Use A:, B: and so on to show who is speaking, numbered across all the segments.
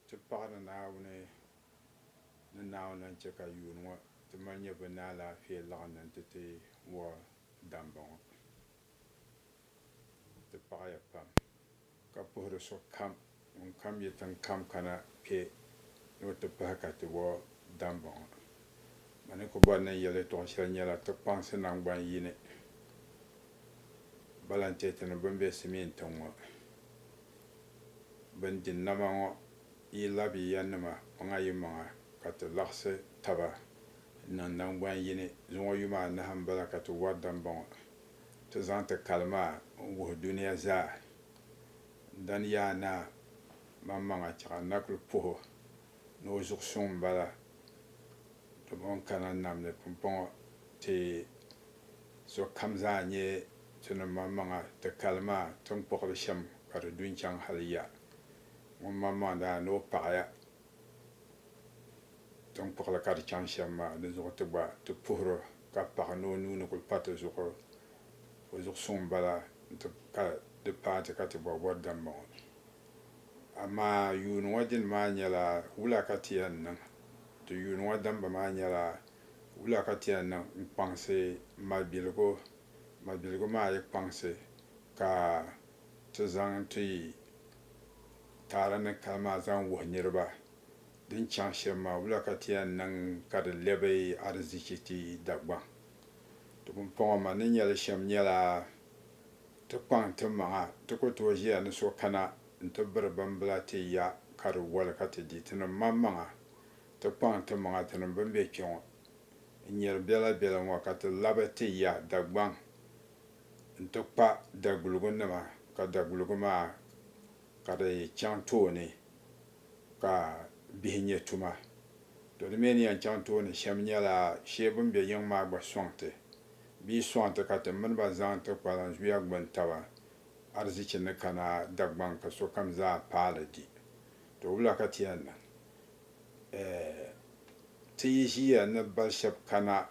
A: Ti paɣi ni Naawuni ni Naawuni lan chɛ ka yuun ŋɔ ti mali nyɛ bɛ ni alaafee laɣindi nti ti wuhi damba ŋɔ. Ti paɣiya pam ka puhiri sokam ŋunkam yi tiŋkam kana kpe ni o ti pahi ka ti wuhi damba ŋɔ. Ma ni ku bɔri ni n yɛl yɛtɔɣ shɛli nyɛla ti kpaŋsi naŋgban yini balantɛɛtini bɛn be Simien tiŋ ŋɔ. bɛn di nama ŋɔ yi labi ya nima maŋa yi maŋa ka ti laɣisi taba niŋ naŋgban yini. Zuŋɔ yuma anahi m-bala ka ti wari dambɔŋɔ ti zaŋ ti kali maa n-wuhi dunia zaa. Dani yaa naa maŋmaŋa chɛɣu n na kuli puh o ni o zuɣu suŋ m-bala domi o ni kana nam ni pumpɔŋɔ ti sokam zaa nyɛ ti ni maŋmaŋa ti kali maa tiŋkpuɣili shɛm ka di du n-chaŋ hali ya ŋun maŋmaŋ daa ni o paɣiya tiŋkpuɣili ka di chaŋ shɛm maa di zuɣu ti gba ti puhir o ka paɣi ni o nuu ni kul pa ti zuɣu o zuɣu suŋ m-bala nti ka di paai ti ka ti bɔri bɔri dambɔŋɔ. Amaa yuuni ŋɔ dini maa nyɛla wula ka ti yɛn niŋ? Ti yuuni ŋɔ dambu maa nyɛla Wula ka ti yɛn niŋ n-kpaŋsi malibiligu? Malibiligu maa yi kpaŋsi ka ti zaŋ ti taara ni kali maa zaŋ wuhi niriba din chaŋ shɛm maa, wula ka ti yɛn niŋ ka di lɛbi arizichi ti Dagbaŋ? Ti pumpɔŋɔ ma ni nya li shɛm nyɛla ti kpaŋ ti maŋa ti ku tooi ʒiya ni so kana nti biri bimbila ti ya ka di woli ka ti di. Tinim maŋmaŋa Ti kpaŋ timaŋa tinim bɛn be kpe ŋɔ n-nyari bela bela ŋɔ ka ti labi ti ya Dagbaŋ nti kpa daguligu nima ka daguligu maa ka di chaŋ tooni ka bihi nyɛ tuma. To di mi ni yɛn chaŋ tooni shɛm nyɛla shee bɛn be yiŋ maa gba sɔŋ ti bee sɔŋ ti ka ti mini ba zaŋ ti kpalan zuya gbuni taba arzichi ni kana Dagbaŋ ka sokam zaa paali di. To wula ka ti yɛn niŋ? Eh, ti yi ʒiya ni bal shɛb kana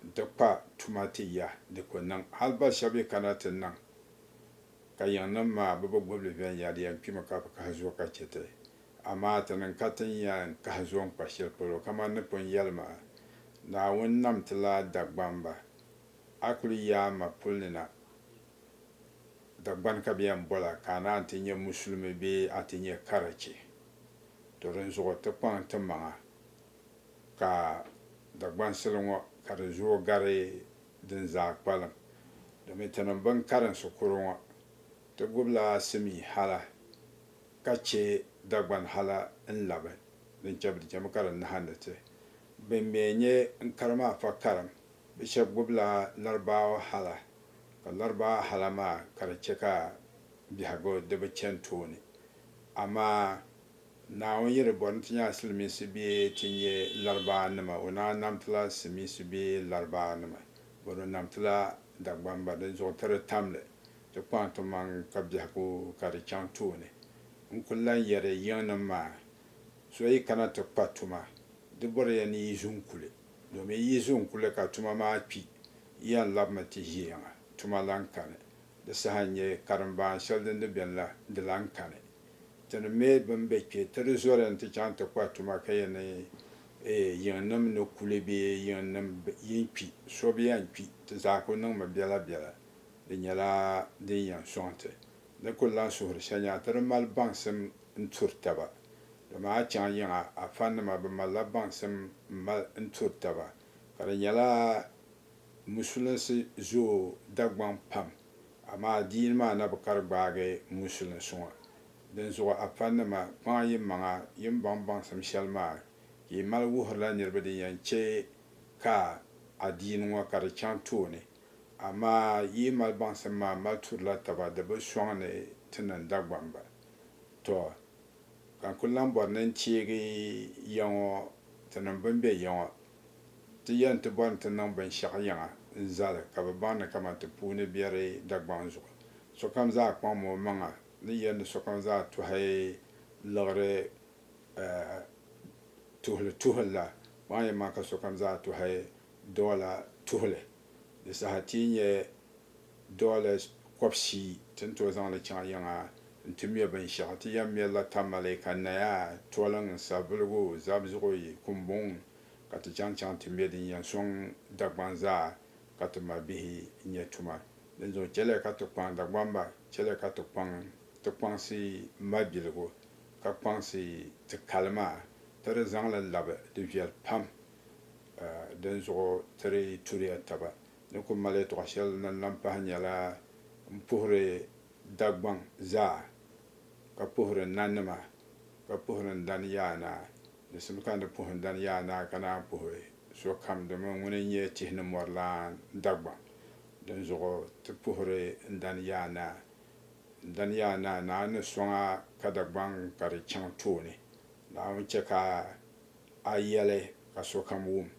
A: nti kpa tuma ti ya, di ku niŋ. Hal bal shɛb yi kana ti niŋ ka yiŋnim maa bɛ bi gub li viɛnyɛliya n-kpimi ka bi kahi zuo ka chɛ ti. Amaa ti niŋ ka tin ya n-kahi zuo n-kpa shɛli polo, kaman ni pun yɛli maa, Naawuni nam ti la Dagbamba. A kul yi a ma puli ni na, Dagbani ka bɛ yɛn bol a, ka a naan ti nyɛ Musulimi bee a ti nyɛ Karachi. To dinzuɣu ti kpaŋ ti maŋa ka Dagbansili ŋɔ ka di zuo gari din zaa kpalim domin ti niŋ bini karinsi kuri ŋɔ ti gubila simii hala ka che Dagbani hala n labi din che di chemi ka di nahindi ti bin mi n nye n kari maa fa karim bi sheb gubila Laribaawa hala ka Laribaawa hala maa ka di che ka biɛhigu di bi chani tooni Amaa Naawuni yi di bɔri ni ti nya Silimiinsi bee ti nya Laribaannima, o naan nam ti la Simiinsi bee Laribaannima, bɔri o nam ti la Dagbamba. Dinzuɣu ti di tam li, ti kpaŋ timaŋ ka biɛhigu ka di chaŋ tooni. N kul lan yɛri yiŋnim maa, So yi kana ti kpa tuma, di bɔri ya ni yi zu n kuli, domin yi zu n kuli ka tuma maa kpi, yi yɛn labimi ti ʒiɛŋa, tuma lan kani. Di saha n-nyɛ karimbaan shɛli din di beni la, di lan kani. Ti ni me bɛn be kpe, ti di zɔri nti chaŋ ti kpa tuma ka yɛn ni yiŋnim ni kuli bee yiŋnim yin kpi so bi yɛn kpi, ti zaa kul niŋmi biɛla biɛla. Di nyɛla din yɛn sɔŋ ti ni kul lan suhiri shɛnyaa ti di mali baŋsim n-turi taba. Dama a chaŋ yiŋa a fannima bɛ malila baŋsim m-mali n-turi taba, ka di nyɛla Musulinsi zooi Dagbaŋ pam, amaa adiini maa na bi kari gbaagi musulinsi ŋɔ. Dinzuɣu a fanima, kpaŋa yimaŋa yi ni baŋ baŋsim shɛli maa ka yi mali wuhirila niriba din yɛn chɛ ka adiini ŋɔ ka di chaŋ tooni. Amaa yi yi mali baŋsim maa mali turila taba, di bi sɔŋ ni ti niŋ Dagbaŋ ba. Tɔ! Ka n kul lan bɔri ni n teegi ya ŋɔ, tinim bɛn be ya ŋɔ. Ti yɛn ti bɔri ni ti niŋ binshɛɣu yiŋa n-zali ka bɛ baŋ ni kaman ti puuni biɛri Dagbaŋ zuɣu. Sokam zaa kpaŋmi o maŋa ni yɛli ni sokam zaa tɔhi liɣiri tuhili tuhili la, kpaŋ yɛn maa ka sokam zaa tɔhi dɔla tuhili. Di saha ti yi nya Dollars kɔbisii ti ni tooi zaŋ li chaŋ yiŋa nti mɛ binshɛɣu. Ti yɛn mɛrila tamale, ka naya, toliŋ, sabuligu, zabizuɣi, kumbuŋ ka ti chaŋ chaŋ ti mɛ din yɛn sɔŋ Dagbaŋ zaa ka ti ma bihi nyɛ tuma. Dinzuɣu chɛliya ka ti kpaŋ Dagbamba, chɛliya ka ti kpaŋ ti kpaŋsi mabiligu ka kpaŋsi ti kali maa ti di zaŋ li labi di viɛli pam dinzuɣu ti di turiya taba. Di ku mali yɛtɔɣ shɛli din lan pahi nyɛla m-puhiri Dagbaŋ zaa, ka puhiri n nanima, ka puhiri n dan yaanaa. Di simi ka n ni puhi n dan yaanaa ka naan puhi sokam domin ŋuni n-nyɛ tihi ni mɔri lan Dagbaŋ. Dinzuɣu ti puhiri n dan yaanaa. N dan yaanaa, Naawuni ni sɔŋ a ka Dagbaŋ ka di chaŋ tooni. Naawuni chɛ ka. A yɛli ka sokam wum,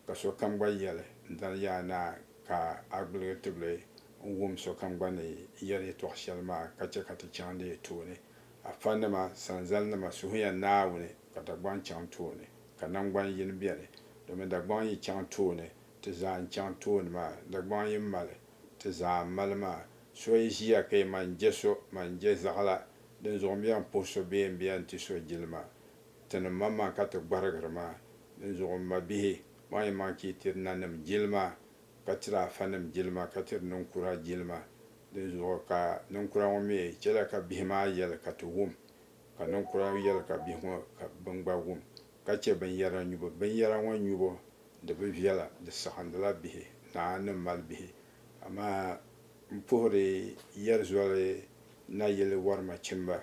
A: ka sokam gba yɛli, N dali yaa naa, ka a gbuligi tibili n-wum sokam gba ni yɛli yɛtɔɣ shɛli maa ka chɛ ka ti chaŋ di tooni. Afanima, sanzalinima, suhuya Naawuni ka Dagbaŋ chaŋ tooni, ka naŋgban yini beni. Domin Dagbaŋ yi chaŋ tooni, ti zaa n-chaŋ tooni maa. Dagbaŋ yi mali, ti zaa m-mali maa. So yi ʒiya ka yi man je so, man je zaɣila din zuɣu m-bɛn puhi so bee m-bɛn ti so jilima. Tinim ma maa ka ti gbarigiri ma, dinzuɣu m mabihi, maŋ yi maŋ chee tiri nanim jilima, ka tiri afanim jilima, ka tiri ninkura jilima, dinzuɣu ka ninkura ŋɔ mi chɛla ka bihi maa yɛli ka ti wum, ka ninkura yɛli ka bihi ŋɔ ka bɛn gba wum, ka chɛ binyara nyubu. Binyara ŋɔ nyubu di bi viɛla, di saɣindila bihi, Naa ni mali bihi. Amaa m puhiri yɛri zoli nayili wɔrima chimba,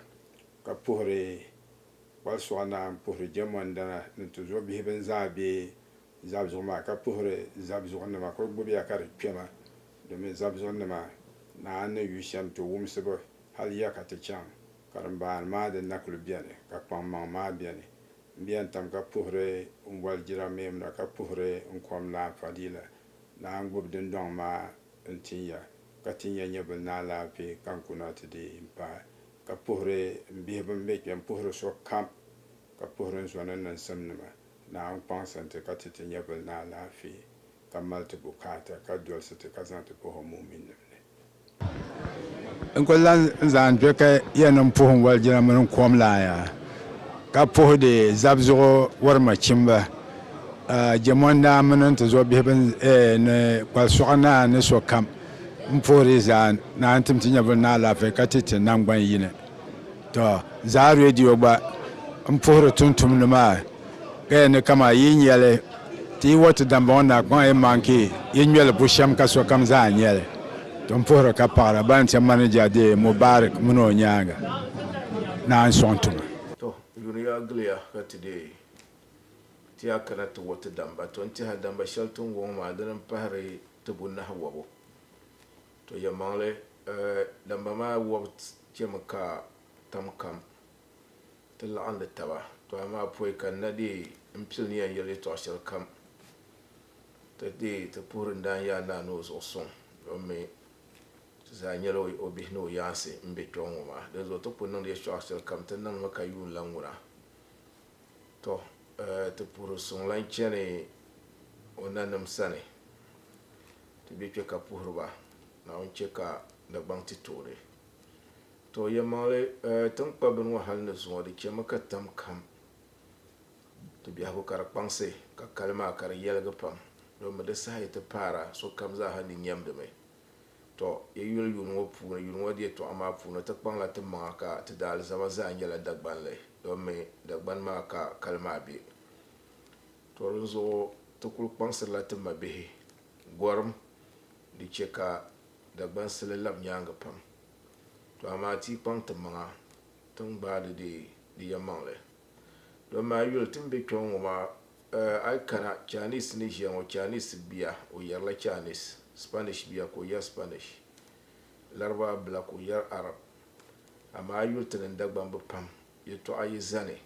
A: ka puhiri Kpal Suɣa Naa m-puhiri jɛmɔndana ni tuzo bihi bɛn zaa be Zabzuɣu maa ka puhiri Zabzuɣu nima ka o gbubi ya ka di kpɛma domin Zabzuɣu nima naa n ni yu shɛm ti wumsibu hal ya ka ti chaŋ karimbaan maa din na kuli beni ka kpaŋmaŋ maa beni m-be ya n-tam ka puhiri n boli jira Meemuna ka puhiri n kom Naa Fadila Naa n-gbubi dundɔŋ maa n-tin ya ka tin ya nyɛvili ni alaafee ka n kuna ti dii m-paai Ka puhiri n bihi bɛn be kpe, m-puhiri so kam, ka puhiri n zɔni n niŋsimnima, ni a ni kɔŋsi n ti ka ti ti nyɛvili ni alaafee, ka mali ti bukaata, ka dolsi ti ka zaŋ ti pah o muminnim ni. N kul lan zaŋ n dɔkɛ ya ni m puhi n walijina mini n kom laa ya, ka puhidi zab zuɣu wari machimba, jɛmɔndaa mini n tizɔbihi bɛn ni kpali sɔɣu naa ni sokam. M poore zaa na n tim ti nyɛvili ni alaafee ka ti ti nangban yini. To zaa radio gba n puhiri tuntumdi maa ka yɛn ni kaman yi nyɛli ti yi wati dambɔŋɔ na kpaŋ yi maŋ ka yi ŋmɛli bushɛm ka sokam zaa nyɛli. To n puhiri ka paɣira ban chɛ manija deei Mubarak mini o nyaaŋa naan sɔŋ tuma. To yuriya giliya ka ti deei ti ya kana ti wati damba. To n tiɛha damba shɛli ti ni wɔŋ maa dini n pahiri Tibu nahi wɔbu. To yɛlimaŋli, Lamba maa wɔbu chɛmi ka tam kam ti laɣindi taba, to amaa pɔi ka n na deei n pili ni yɛn yɛli yɛtɔɣ shɛlikam ti deei ti puhiri n daanyaa naa ni o zuɣu suŋ domi ti zaa nyɛla o bihi ni o yaansi m-be kpiɔŋ ŋɔ maa. Dinzuɣu ti ku niŋdi yɛtɔɣ shɛlikam ti niŋmi ka yuun lan ŋuna. Tɔ! Ti puhiri suŋ lan chani o nanim sani, ti be kpe ka puhiri ba, Naawuni chɛ ka Dagbaŋ ti tooi. Tɔ! Yɛlimaŋli, tiŋkpabbini ŋɔ hal ni zuŋɔ di chɛmi ka tam kam ti biɛhigu ka di kpaŋsi, ka kali maa ka di yɛligi pam, domi di saha yi ti paara sokam zaaha ni nyɛmdimi. Tɔ! Yi yuli yuri ŋɔ puuni, yuri ŋɔ di yɛtɔɣa maa puuni, ti kpaŋla ti maŋa ka ti da alizama zaa nyɛla Dagbanli, domi Dagbani maa ka kali maa be. Tɔ! Dinzuɣu ti kul kpaŋsirila ti mabihi gɔrim di chɛ ka Dagbansili lab nyaaŋa pam. Tɔ! Amaa ti yi kpaŋ ti maŋa, ti ni gbaai di dee di yɛnmaŋli. Dɔn maa yuli ti ni be kpɛŋɔ ŋɔ maa eh, a yi kana Chinese ni ʒiya ŋɔ, Chinese bia o yɛrila Chinese, Spanish bia ka o yɛri Spanish, Laribaa bila ka o yɛri Arab. Amaa a yuli ti ni Dagbaŋ bi pam yɛltɔɣa yi zani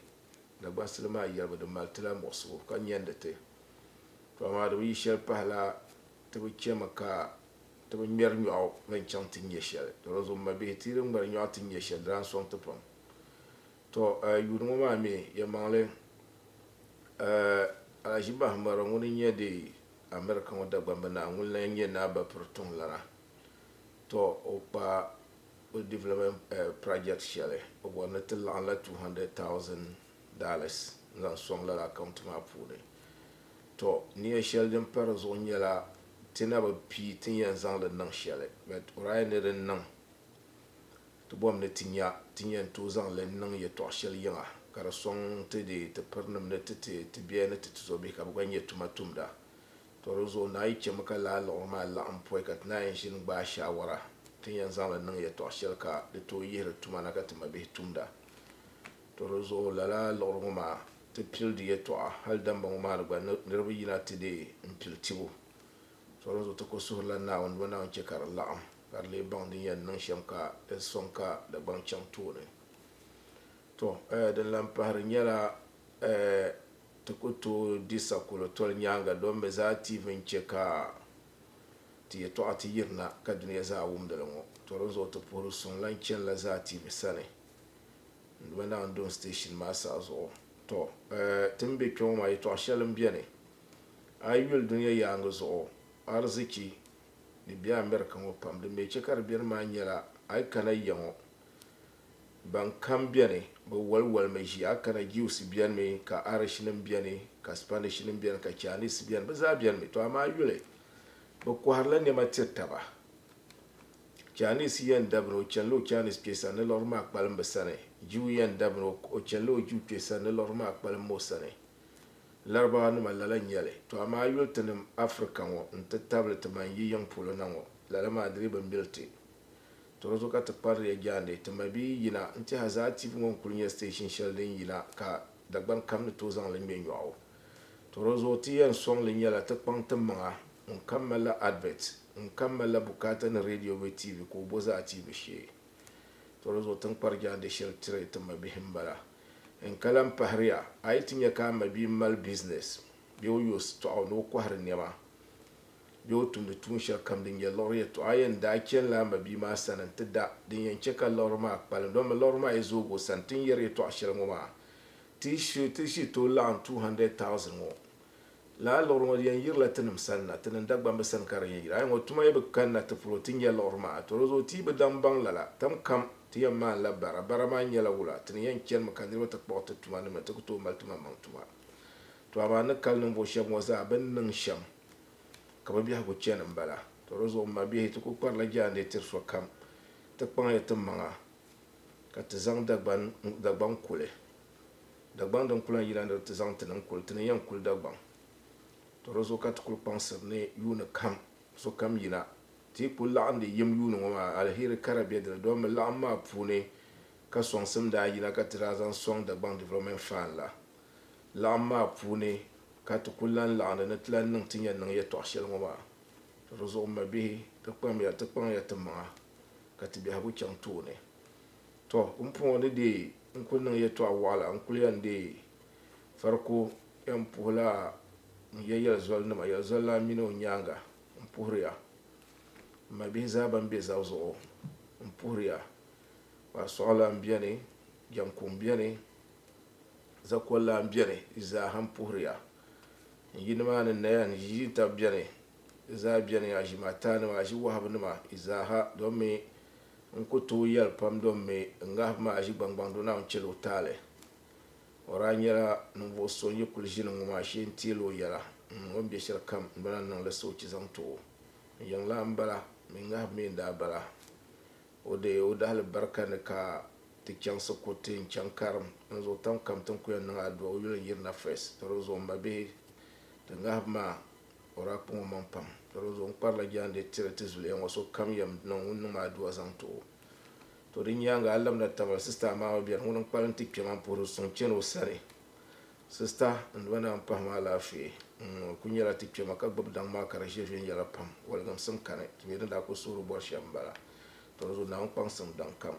A: Dagbansili maa yɛlibu di mali ti la muɣisigu ka nyandi ti. To amaa di bi yi shɛli pahi la ti bi chɛmi ka ti bi ŋmɛri nyɔɣu ni n-chaŋ ti nyɛ shɛli. Dɔlɔzum mabihi ti yi di ŋmɛri nyɔɣu ti nyɛ shɛli di daa n-sɔŋ ti pam. Tɔ! A yuun ŋɔ maa mi yɛlimaŋli, Alhaji Bahamaro ŋun n-nyɛ di America ŋɔ Dagbamba Naa ŋun lan nyɛ Naa Bapir Tuŋ lana. Tɔ! O kpa o development project shɛli o bɔri ni ti laɣim la $200,000 n-zaŋ sɔŋ lala account maa puuni. Tɔ! Nia shɛli din pa di zuɣu nyɛla ti na bi pii ti ni yɛn zaŋ li niŋ shɛli but o daa yɛn ni di niŋ Ti bɔhim ni ti nya ti ni yɛn tooi zaŋ li n-niŋ yɛtɔɣ shɛli yiŋa ka di sɔŋ ti deei ti pirinim ni ti ti ti biɛhi ni ti ti zɔbihi ka bɛ gba nyɛ tuma tumda. Tɔ dinzuɣu naa yi chɛmi ka laa liɣiri maa laɣim pɔi ka ti naa yɛn ʒini gbaai shaawara ti ni yɛn zaŋ li niŋ yɛtɔɣ shɛli ka di tooi yihiri tuma na ka ti mabihi tumda. Tɔ dinzuɣu lala liɣiri ŋɔ maa ti pili di yɛtɔɣa hal damba ŋɔ maa ni gba niriba yina ti deei m-pili tibu. Sɔŋ zuɣu ti ku suhirila Naawuni dama Naawuni chɛ ka di laɣim, ka di lee baŋ din yɛn niŋ shɛm ka di sɔŋ ka Dagbaŋ chaŋ tooni. Tɔ! Din lan pahiri nyɛla ti ku tooi di sakolo toli nyaaŋa dɔn bɛ zaa tiivi n-chɛ ka ti yɛtɔɣa ti yirina ka dunia zaa wum di li ŋɔ. Tɔ! Din zuɣu ti puhiri suŋ lan chanila zaa tiivi sani n-duma Naawuni Dɔn Station maa saha zuɣu. Tɔ! Ti ni be kpe ŋɔ maa, yɛtɔɣ shɛli m-beni. A yi yuli dunia yaaŋa zuɣu arzichi ni be America ŋɔ pam din mi che ka di beni maa nyɛla a yi kana ya ŋɔ ban kam beni be waliwalimi ʒiya a kana Jews benimi ka Irish nim beni ka Spanish nim beni ka Chinese beni be zaa benimi to amaa a yuli be kɔhirila nɛma tiri taba Chinese yen dabina o chanila o Chinese kpe sani ni liɣiri maa kpalim be sani Jew yen dabina o chanila o Jew kpe sani ni liɣiri maa kpalim o sani. Larabawa nima lala nyɛli, to amaa yuli tinim Africa ŋɔ n ti tabili ti man yi yiŋ polo na ŋɔ lala maa di dii bi mili ti. To di zuɣu ka ti kpariliya jaande ti mabiyi yina n tɛha zaa TV ŋɔ n kuli nyɛ station shɛli din yina ka Dagban kam ni tooi zaŋ li ŋmɛ nyɔɣu. To di zuɣu ti yɛn sɔŋ li nyɛla ti kpaŋ ti maŋa ŋun kam malila advert, ŋun kam malila bukaata ni radio bee TV ka o bo zaa TV shee. To di zuɣu ti ni kpari jaande shɛli tiri ti mabihi m bala. N ka lan pahiri ya, a yi ti nya ka a mabia mali bizinɛs bee o yo sitɔɣu ni o kɔhiri nɛma bee o tumdi tuun shɛli kam din nyɛ liɣiri yɛtɔɣa, a yɛn daa chanila a mabia maa sani nti da din yɛn chɛ ka liɣiri maa kpalim. Dama liɣiri maa yi zoog o sani, ti ni yɛri yɛtɔɣ shɛli ŋɔ maa, ti yi tooi laɣim 200,000 ŋɔ. Lala liɣiri ŋɔ di yɛn yirila tinim sani na, tinim Dagbamb sani ka di yɛn yiri. A yi ŋɔ tuma yi bi kanna ti polo ti nya liɣiri maa, tɔ di zuɣu ti yi bi daŋ baŋ lala, tam kam ti yɛn maanila bara. Bara maa nyɛla wula, ti ni yɛn chanimi ka niriba ti kpuɣi ti tuma nim ni ti ku tooi mali tumammaŋ tuma. Tɔ amaa ni kali ninvuɣ shɛb ŋɔ zaa bɛ ni niŋ shɛm ka bɛ biɛhigu chani m-bala. Tɔ di zuɣu m mabihi ti ku kparila jaandiɛ tiri sokam ti kpaŋ ya timaŋa ka ti zaŋ Dagbaŋ kuli. Dagbaŋ din ku lan yina ni di ti zaŋ ti ni n-kuli ti ni yɛn kuli Dagbaŋ, tɔ di zuɣu ka ti kuli kpaŋsiri ni yuuni kam sokam yina ti yi kuli laɣim di yim yuuni ŋɔ maa, aliheri kara be di ni. Domi laɣim maa puuni ka sɔŋsim daa yina ka ti daa zaŋ sɔŋ Dagbaŋ Development Fund la. Laɣim maa puuni ka ti kuli lan laɣindi ni ti lan niŋ ti ni yɛn niŋ yɛtɔɣ shɛli ŋɔ maa. Tɔ di zuɣu m mabihi, ti kpamya ti kpaŋya ti maŋa ka ti biɛhigu chaŋ tooni. Tɔ! Pumpɔŋɔ ni deei n-kul niŋ yɛtɔɣ wɔɣila, n kul yɛn deei fariko yɛn puhila n ya yɛlizɔlinima, yɛlizɔlana mini o nyaaŋa. M puhiri ya, m mabihi zaa bɛn be zab zuɣu, m puhiri ya, kparisɔɣilan beni, jɛmkuŋ beni, zakollan beni, di zaaha m puhiri ya. N yi nimaani n-naya n ʒi ʒiintab beni, di zaa beni, aʒimaataanima, aʒiwɔhibinima, di zaaha domi N ku tooi yɛli pam dom mi n ŋahibu maa ʒigbaŋgbaŋ do Naawuni chɛli o taali. O daa nyɛla ninvuɣ so n-yi kuli ʒini ŋɔ maa shee n-teeli o yɛla. N niŋ o ni be shɛli kam n-bala ni n niŋ li soochi zaŋ ti o. N yiŋlaa m-bala, min ŋahibu mi n-daa bala. O di o dahilibarika ni ka ti chaŋsi kuriti n-chaŋ karim. Dinzuɣu tam kam ti ni ku yɛn niŋ adua o yuli n-yiri na first. Di ni zuɣu m mabihi, ti ŋahibu maa. O daa kpaŋ o maŋ pam. Dalizuɣu n kparila jaande tiri ti zuliya ŋɔ sokam yɛm niŋ ŋun niŋ ma aduwa zaŋ ti o. To di nyaaŋa a labina Tamale sista Amaama bɛni ŋuni n kpali n ti kpe ma n puhiri suŋ chani o sani. Sista n duma naa n pahi ma alaafee n o kuli nyɛla ti kpema ka gbubi daŋ maa ka di ʒe viɛnyɛla pam waligimsim kani ti mi din daa kuli suhiri bɔri shɛm n bala. Dalizuɣu naa ŋun kpaŋsim daŋ kam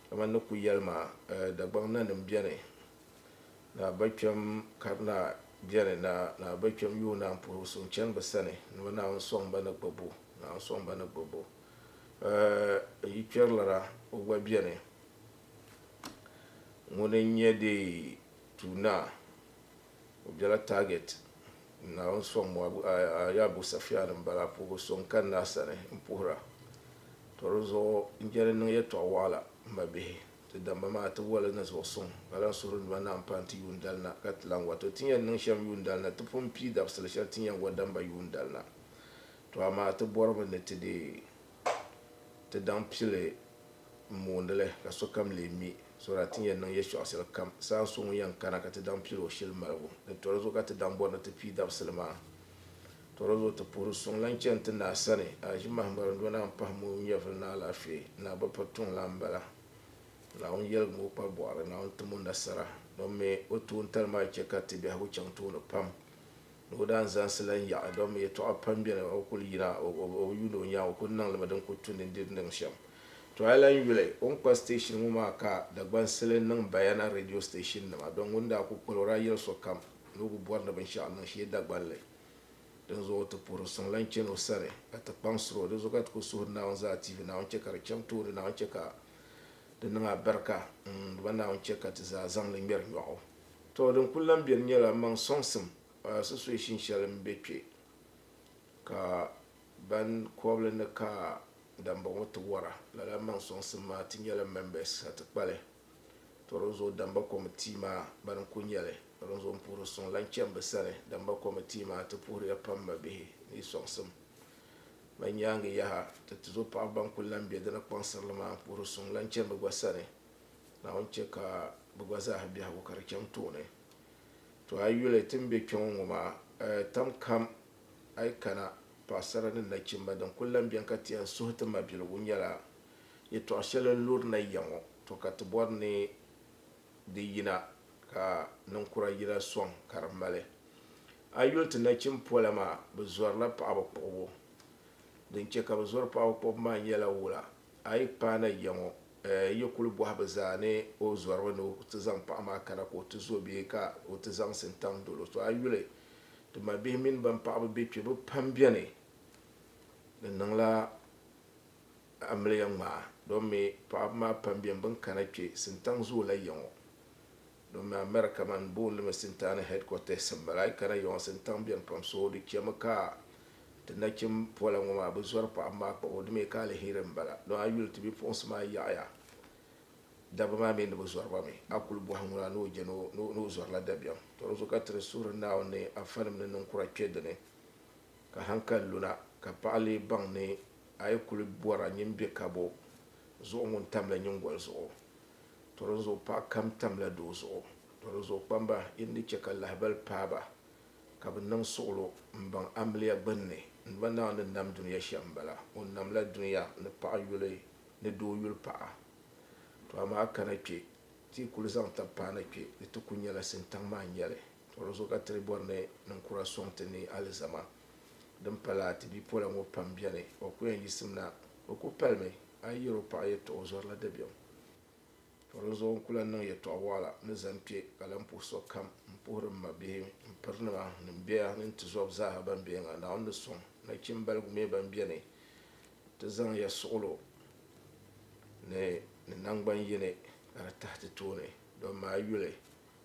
A: kamani ni kuyali maa Dagbaŋ nanim bɛni. Naa bɛ kpɛm Karina beni na, naa bɛ kpɛm yuui naan puhibu suŋ chani bɛ sani ni bɛ Naawuni sɔŋ ba ni gbibbu, Naawuni sɔŋ ba ni gbibbu. Ɛɛ, yi kpɛrilana o gba beni ŋuni n-nyɛ deei tuui naa, o bela target, Naawuni sɔŋ Moab, a yi Abu Safian m-bala, a puhibu suŋ kani naa sani m-puhira. Tɔ di zuɣu n-jɛli niŋ yɛtɔɣ waɣila, m mabihi. Ti damba maa ti wali ni zuɣu suŋ, ka lan suhiri nima naɣim pahi ti yuundali na, ka ti lan wa. To ti yɛn niŋ shɛm yuundali na, ti pun pii dabisili shɛli ti ni yɛn wa damba yuundali na. To amaa ti bɔrimi ni ti deei ti daŋ pili m-moondi li, ka sokam leei mi, so daa ti ni yɛn niŋ yɛltɔɣa shɛli kam. Saha so ŋun yɛn kana ka ti daŋ pili o shili maligu ni tɔri zuɣu ka ti daŋ bɔri ni ti pii dabisili maa. Tɔrɔzo ti puhiri suŋ lan chani ti naa sani, Aʒimahi ŋariŋdona m-pahi mooi nyɛvili ni alaafee ni abapatuŋ lan m-bala. Naawuni yɛligi ma o kpar bɔɣiri, Naawuni tim o nasara. Dɔn mi o toontali maa chɛ ka ti biɛhigu chaŋ tooni pam ni o daa ni zaŋsi lan yaɣi. Dɔn mi yɛtɔɣa pam beni, o kul yina, o bi yuuni o nyaŋ, o kul niŋ li mi din kul tu ni n di di niŋ shɛm. To a lan yuli o ni kpa station ŋɔ maa ka Dagbansili niŋ Bayana radio station nima, dɔn ŋun daa kul kpal o daa yɛli sokam. Ni o bi bɔri ni binshɛɣu niŋ shee Dagbaŋ li. Dinzuɣu o ti puhiri o suŋ lan chani o sani, ka ti kpaŋsiri o. Dinzuɣu ka ti kul suhiri Naawuni zaa tihi Naawuni chɛ ka di chaŋ tooni, Naawuni chɛ ka di niŋ abɛrika n-dima, Naawuni chɛ ka ti zaa zaŋ li ŋmɛri nyɔɣu. Tɔ! Din kul lan beni nyɛla mmaŋ sɔŋsim a susuishin shɛli m-be kpe, ka ban kɔbili ni ka dambɔŋɔ ti wɔra. Lala mmaŋ sɔŋsim maa ti nyɛla mɛmbɛs, ka ti kpa li. Toronzo Damba Kɔmitii maa bani n-kuli nyɛli Toronzo n puhiri suŋ lan chani bɛ sani. Damba Kɔmitii maa ti puhiriya pam mabihi ni yi sɔŋsim ma nyaaŋa yaha. Ti tizo paɣiba ban kuli lan be di ni kpaŋsiri li maa puhiri suŋ lan chani bɛ gba sani. Naawuni chɛ ka bɛ gba zaaha biɛhigu ka di chaŋ tooni. To a yi yuli ti ni be kpe ŋɔ ŋɔ maa, tam kam a yi kana, paɣisara ni nachimba din kuli lan beni ka ti yɛn suhi ti mabiligu nyɛla, Yɛtɔɣ shɛli n-lurina ya ŋɔ, tɔ ka ti bɔri ni di yina ka ninkura yila sɔŋ ka di mali. A yi yuli ti nachim pola maa, bɛ zɔrila paɣiba kpuɣibu. Din chɛ ka bɛ zɔri paɣiba kpuɣibu maa nyɛla wula? A yi paana ya ŋɔ, yi kul bɔhi bɛ zaa ni o zɔrimi ni o ti zaŋ paɣa maa kana ka o ti zo bee ka o ti zaŋ sintaŋ dol o. Tɔ a yuli ti mabihi mini bɛn paɣiba be kpe, bɛ pam beni ni niŋla amiliya ŋmaa domi paɣaba maa pam bɛn bɛn kana kpe sintaŋ zoola yaŋɔ domi America man boonlimi sintaani headquarters m-bala a yi kana yaŋɔ sintaŋ bɛni pam so di chemi ka ti nachim pola ŋɔ maa bi zɔri paɣaba maa kpabu di mi ka aliheri m-bala don a yuli ti bipuɣinsi maa yaɣiya dabba maa mi ni bi zɔri ba mi a kuli bɔhi ŋuni a ni o je ni o zɔrila dabiɛm to di zuɣu ka ti di suhiri Naawuni ni afanim ni niŋkura kpe dini ka hankali luna ka paɣa lee baŋ ni A yi kuli bɔra nyin be kabo zuɣu ŋun tamla nyingoli zuɣu, tɔ dinzuɣu paɣ kam tamla doo zuɣu. Tɔ dinzuɣu kpamba, yi ni di chɛ ka lahibal paai ba, ka bɛ niŋ suɣilo m-baŋ amiliya gbinni, n ba Naawuni ni nam dunia shɛm m-bala. O namla dunia ni paɣ yuli ni doo yuli paɣa. Tɔ amaa kana kpe, ti yi kuli zaŋ tab paana kpe, di ti kul nyɛla sintaŋ maa n-nyɛ li. Tɔ dinzuɣu ka ti di bɔri ni ninkura sɔŋ ti ni alizama. Din pala a ti bipola ŋɔ pam beni, o ku yɛn yiɣisim na. O ku palimi a yi yɛri o paɣa yɛtɔɣa o zɔrila dabiɛm. Tɔ dinzuɣu n ku lan niŋ yɛtɔɣa waɣila ni zani kpe ka lan puhi sokam m-puhiri m mabihi m pirinima ni m bɛya ni n tizɔb zaaha ban beni ŋɔ. Naawuni ni sɔŋ nachimbal gume ban beni nti zaŋ ya suɣilo ni ni naŋgban yini ka di tahi ti tooni dɔmma a yuli.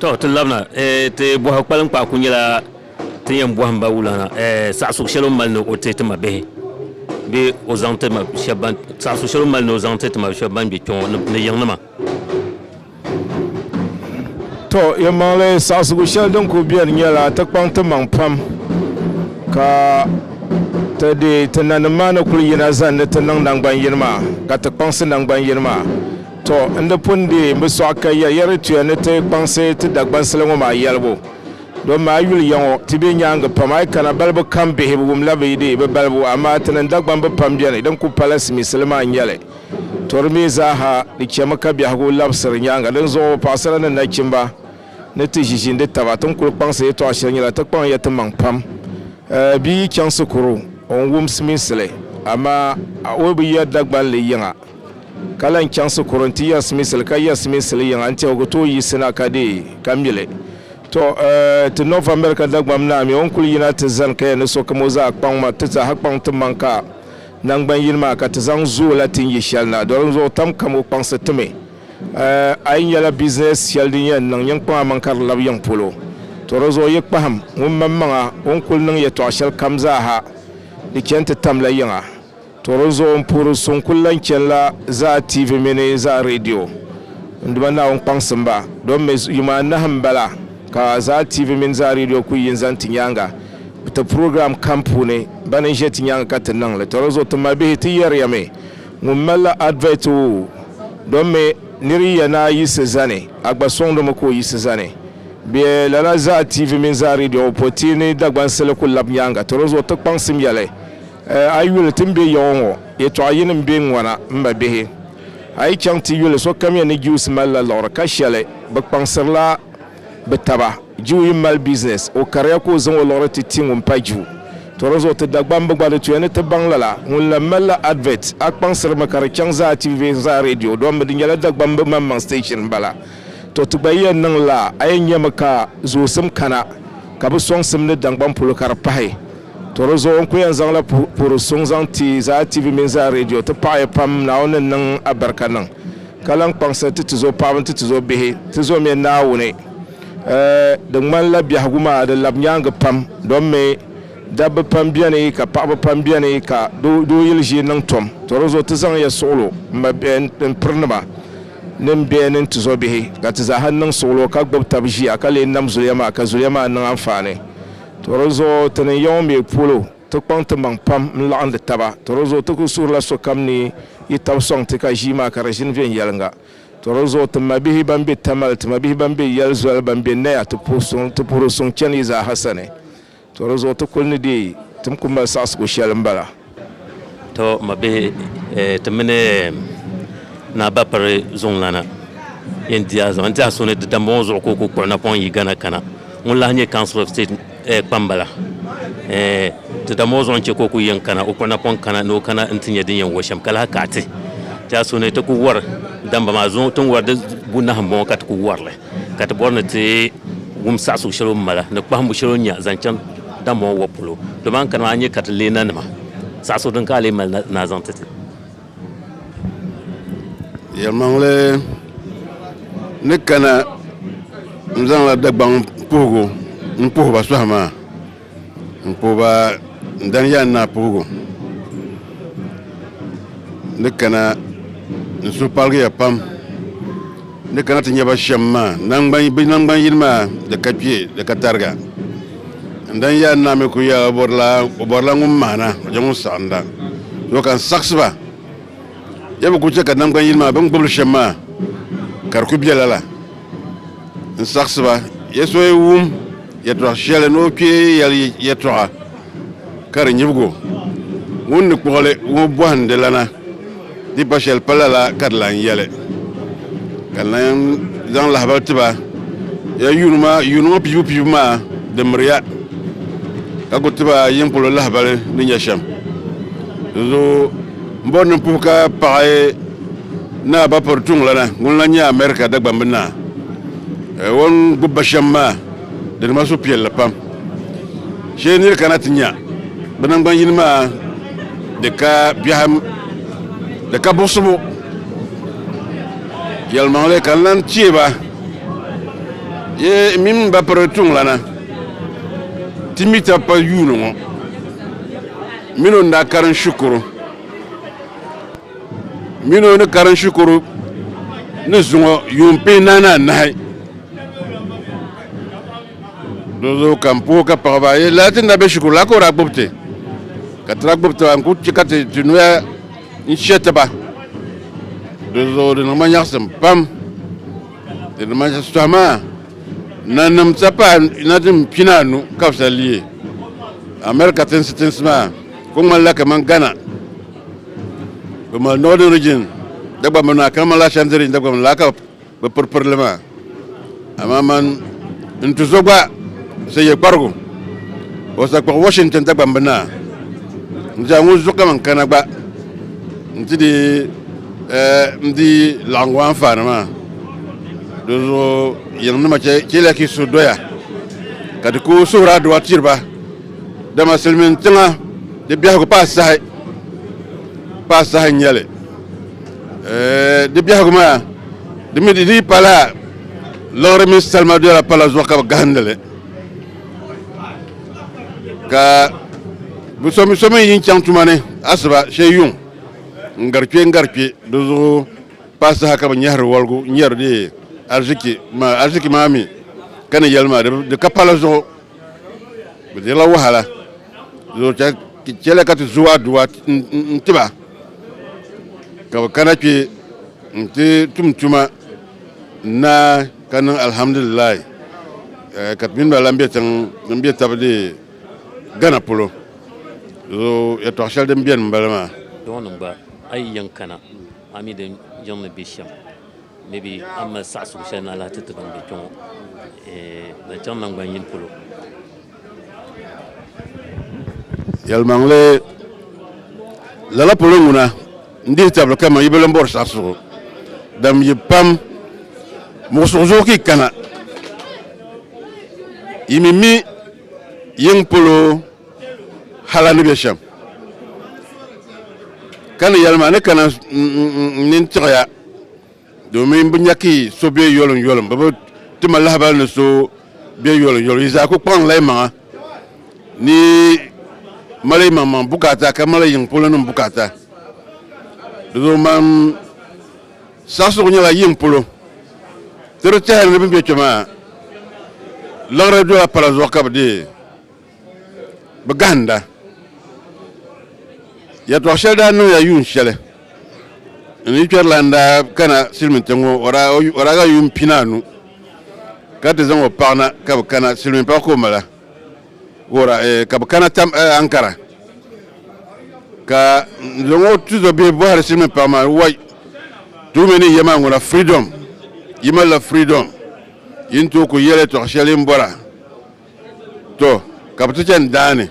A: To ti labina ti bɔhi kpalinkpaɣu ku nyɛla ti yɛn bɔhim ba wulana saɣisug shɛli o ni mali ni o ti ti ma bihi bee o zaŋ ti ma shɛba ban saɣisug shɛli o ni mali ni o zaŋ ti ti ma shɛba ban bɛ kpɛŋɔ ni yiŋnima. To yɛlimaŋli saɣisigu shɛli din ku beni nyɛla ti kpaŋ ti maŋ pam ka ti deei ti nanim maa ni kuli yina zani ti niŋ naŋgban yini maa ka ti kpaŋsi naŋgban yini maa. Tɔ! N di pun deei n bi sɔɣi ka ya Yɛrituya ni ti kpaŋsi ti Dagbansili ŋɔ maa yɛlibu. Dɔmi maa, a yi yuli ya ŋɔ, ti be nyaaŋa pam, a yi kana balibu kam bihi, bɛ wumla bɛ dee bi balibu, amaa ti ni Dagbamb pam beni, din ku pala simiisili maa n-nyɛ li. Tɔ! Di mi zaaha di chɛmi ka biɛhigu labisiri nyaaŋa. Dinzuɣu, paɣisara ni nachimba, ni ti ʒi ʒindi taba, ti ni kul kpaŋsi yɛtɔɣ shɛli nyɛla, ti kpaŋ ya timaŋ pam. Bia yi chaŋ sikuru, o ni wum simiisili, amaa o bi ya Dagbanli yiŋa. Ka lan chaŋsi kuri nti yɛrisimisili, ka yɛrisimisili yiŋa n tɛbigi tooi yiɣisina ka deei, ka mi li. Tɔ! Ti North America Dagbamb Naa mi, o ni kul yina ti zani kaya ni so kam o zaa kpaŋ ma, ti zaaha kpaŋ ti maŋ ka naŋgban yini maa, ka ti zaŋ zo o la ti ni yi shɛli na. Doli n zuɣu tam kam o kpaŋsi ti mi. A yi nyɛla bizinɛs shɛli din yɛn niŋ nyiŋkpaŋa maŋ ka di lab yiŋ polo, tɔ! Di zuɣu yi kpahim ŋun maŋmaŋa o ni kul niŋ yɛtɔɣ shɛlikam zaaha, di chani ti tamla yiŋa. To di zuɣu m-puhiri so n-kul lan chani la zaa tiivi mini zaa redio. N Duuma Naawuni kpaŋsim ba, domi yuma anahi m-bala ka zaa tiivi mini zaa redio kul yin zaŋ ti nyaaŋa bɛ ti program kam puuni. Bana n-ʒe ti nyaaŋa ka ti niŋ li. To di zuɣu ti mabihi ti yɛriyami ŋun mali la advert oo, domi nir yi ya ni a yiɣisi zani, a gba sɔŋdimi ka o yiɣisi zani. Bɛ lala zaa tiivi mini zaa redio ŋɔ pɔi ti ni Dagbansili kul lab nyaaŋa. To di zuɣu ti kpaŋsim ya li. A yuli ti ni be yaɣu ŋɔ, yɛtɔɣ yini m-be ŋ-ŋɔna, m ba bihi. A yi chaŋ ti yuli sokamiya ni Juus malila liɣiri ka shɛli, bɛ kpaŋsirila bɛ taba. Juu yi mali bizinɛs, o kariya ka o zaŋ o liɣiri ti ti ŋun pa Juu. Tɔ dinzuɣu ti Dagbamb bi gba di tuya ni ti baŋ lala. Ŋun lan malila advert, a kpaŋsirimi ka di chaŋ zaa TV ni zaa radio dɔmbu, di nyɛla Dagbamb maŋmaŋ station m-bala. Tɔ ti gba yi yɛn niŋ lala, a yɛn nyami ka zoosim kana ka bɛ sɔŋsim ni daŋgbani polo ka di pahi. To di zuɣu n ku yɛn zaŋla puhiri suŋ zaŋ ti Zaa TV mini Zaa Radio. Ti paɣi ya pam, Naawuni ni niŋ a barika niŋ ka lan kpaŋsiri ti ti zo paɣaba ni ti ti zo bihi. Ti zomiya Naawuni. Di ŋmani la biɛhigu maa di labi nyaangi pam domi dabba pam beni ka paɣaba pam beni ka doo yili ʒii niŋ tom. To di zuɣu ti zaŋ ya suɣilo n piri nima ni n biɛ ni n ti zo bihi ka ti zaaha niŋ suɣilo ka gbib tab ʒiya ka lee nam zuliya maa ka zuliya maa niŋ anfaani. Tɔ di zuɣu ti ni ya ŋɔ mi polo, ti kpaŋ timaŋ pam n-laɣindi taba. Tɔ di zuɣu ti kul suhirila sokam ni yi tab sɔŋ ti ka ʒii maa ka di ʒini viɛnyɛliŋga. Tɔ di zuɣu ti mabihi bɛn be Tamale, ti mabihi bɛn be yɛl zoli, bɛn be Naya, ti puhiri suŋ chani yi zaaha sani. Tɔ di zuɣu ti kul ni deei tim kul mali saɣisigu shɛli m-bala. To ma bihi ti mini Naa Bapiri zuŋlana yɛn di a zuɣu n tiɛha so ni di dambɔŋɔ zuɣu ka o ku kpuɣi napɔŋ yi Ghana kana ŋun lahi nyɛ Council of State kpambala di dambɔŋɔ zuɣu n-chɛ ka o ku yɛn kana o kpuɣi napɔŋ kana ni o kana n-ti nya din yɛn wari shɛm ka lahi kaɣiti tiɛha so ni ti ku wari damba maa zuŋɔ ti ni wari di bunahi m-bɔŋɔ ka ti ku wari li. ka ti bɔri ni ti wum saɣisigu shɛli o ni mali ni kpahimbu shɛli o ni nya zaŋ chaŋ Dambaŋɔ wɔbu polo. Dama a ni kani maa a ni nya ka ti leei nanima saɣisigu din ka a lee mali na ni a zaŋ ti ti. Yɛlimaŋli ni kana n-zaŋla Dagbaŋ puhigu m-puhi ba sɔhi maa. N puhi ba, n dani ya n naa puhigu ni kana n suhu paligi ya pam ni kana ti nya ba shɛm maa bɛ naŋgban yini maa di ka kpe di ka tariga. N dani ya n naa mi kul yɛla o bɔrila ŋun mahina o je ŋun saɣinda. Yo ka n saɣisi ba, ya bi kul chɛ ka naŋgban yini maa bɛ ni gbib li shɛm maa ka di kul be lala. n saɣisi ba, ya so yi wum yɛtɔɣ shɛli ni o kpee yɛli yɛtɔɣa ka di nyibig o, ŋun ni kpuɣi li ŋɔ bɔhindi lana, di pa shɛli pa lala ka di lan yɛli. Ka Naim zaŋ lahibal ti ba, Ya yuuni yuuni ŋɔ piibu piibu maa di miri ya, ka ku ti ba yin polo lahibali ni nya shɛm. Dinzuɣu M bɔri ni n puhi ka paɣi Naa Bapɔri Tuŋlana ŋun lan nyɛ America Dagbamb Naa. O ni gbubi ba shɛm maa di niŋ ma suhupiɛlli pam. Shee nir kana ti nya bɛ naŋgban yini maa di ka biɛhim, di ka buɣisibu. Yɛlimaŋli ka n lan chɛ ba yi mini Bapɔri Tuŋlana ti mi tab pal yuuni ŋɔ. Mini o ni daa karim shikuru mini o ni karim shikuru ni zuŋɔ yuun pee naani anahi. Di zuɣu ka n puhi ka paɣi ba, Yi lala ti ni daa be shikuru la ka o daa gbubi ti? Ka ti daa gbubi taba, n kul chɛ ka ti ti noya n-shɛ ti ba. Di zuɣu di niŋ ma nyaɣisim pam. Di ni mali shitɔɣu maa, nanim sa paai na din pina anu ka bɛ sa leei America tinsi tinsi maa kuli ŋmanila kaman Ghana, bɛ mali Northern Region dagbamb naa kaman lala Ashanti Region dagbamb laa ka bɛ piri piri li maa. Amaa man n tuzo gba sa ye kparigu o sa kpuɣi Washington dagbamb naa n-ti a ŋun zuɣu kaman kana gba n-ti di N di laɣingu anfaani maa, dinzuɣu yiŋnima chɛliya ka yi suhu doya, ka di ku suhuri adua tiri ba, dama silimiin tiŋa di biɛhigu paai saha, paai saha n-nyɛ li. Di biɛhigu maa, di mi di dii pala liɣiri mini salima doya pala zuɣu ka bɛ gahindi li, ka bɛ so mi yi chaŋ tuma ni asiba shee yuŋ. N gari kpe n gari kpe, di zuɣu paai saha ka bɛ nyɛhiri waligu n-yɛri di arziki maa, arziki maa mi ka ni yɛli maa di ka pala zuɣu, bɛ dirila wahala, di zuɣu chɛliya ka ti zo aduwa n-ti ba ka bɛ kana kpe n-ti tum tuma n-naai ka niŋ alhamdulilahi ka ti mini ba lan be tiŋ din be tabi di Ghana polo zo yɛtɔɣ shɛli din beni m-bala maa. Dɔɔnim gba, a yi yɛn kana, a mi din yiŋ ni be shɛm. Maybe a mali saɣisigu shɛli ni a lahi ti ti ban be kpe ŋɔ zaŋchaŋ naŋgban yini polo. Yɛlimaŋli, Lala polo ŋuna n-dihi tabili kaman yi bi lan bɔri saɣisigu dam yi pam muɣisigu zuɣu ka yi kana, yi mi mi. Yiŋ polo hal a ni be shɛm, ka ni yɛli ma, a ni kana n nini tiɣi ya, domin bɛ nya ka yi so be yoliŋyoliŋ, bɛ bi ti ma lahibal ni so be yoliŋyoliŋ. Yi zaa ku kpaŋla yimaŋa ni yi mali yimaŋmaŋ bukaata ka mali yiŋ polonim bukaata. Di zuɣu man. Saɣisirigu nyɛla yiŋ polo ti di tɛhili ni bɛ ni be kpe maa liɣiri dola pala zuɣu ka bɛ deei bɛ gahinda. Yɛtɔɣ shɛli daa niŋya yuun shɛli n ni kpɛrilana daa kana silimiintiŋ ŋɔ o daa ga yuun pinaanu ka ti zaŋ o paɣa na ka bɛ kana, silimiinpaɣa ka o mali a. Wora eh, ka bɛ kana tam eh, Ankara ka n zaŋ o tuzo bihi bɔhiri silimiin paɣa maa wai tuumi ni yɛma ŋuna freedom yi malila freedom yi ni tooi ku yɛli tɔɣ shɛli n bɔra to ka bɛ ti chani daani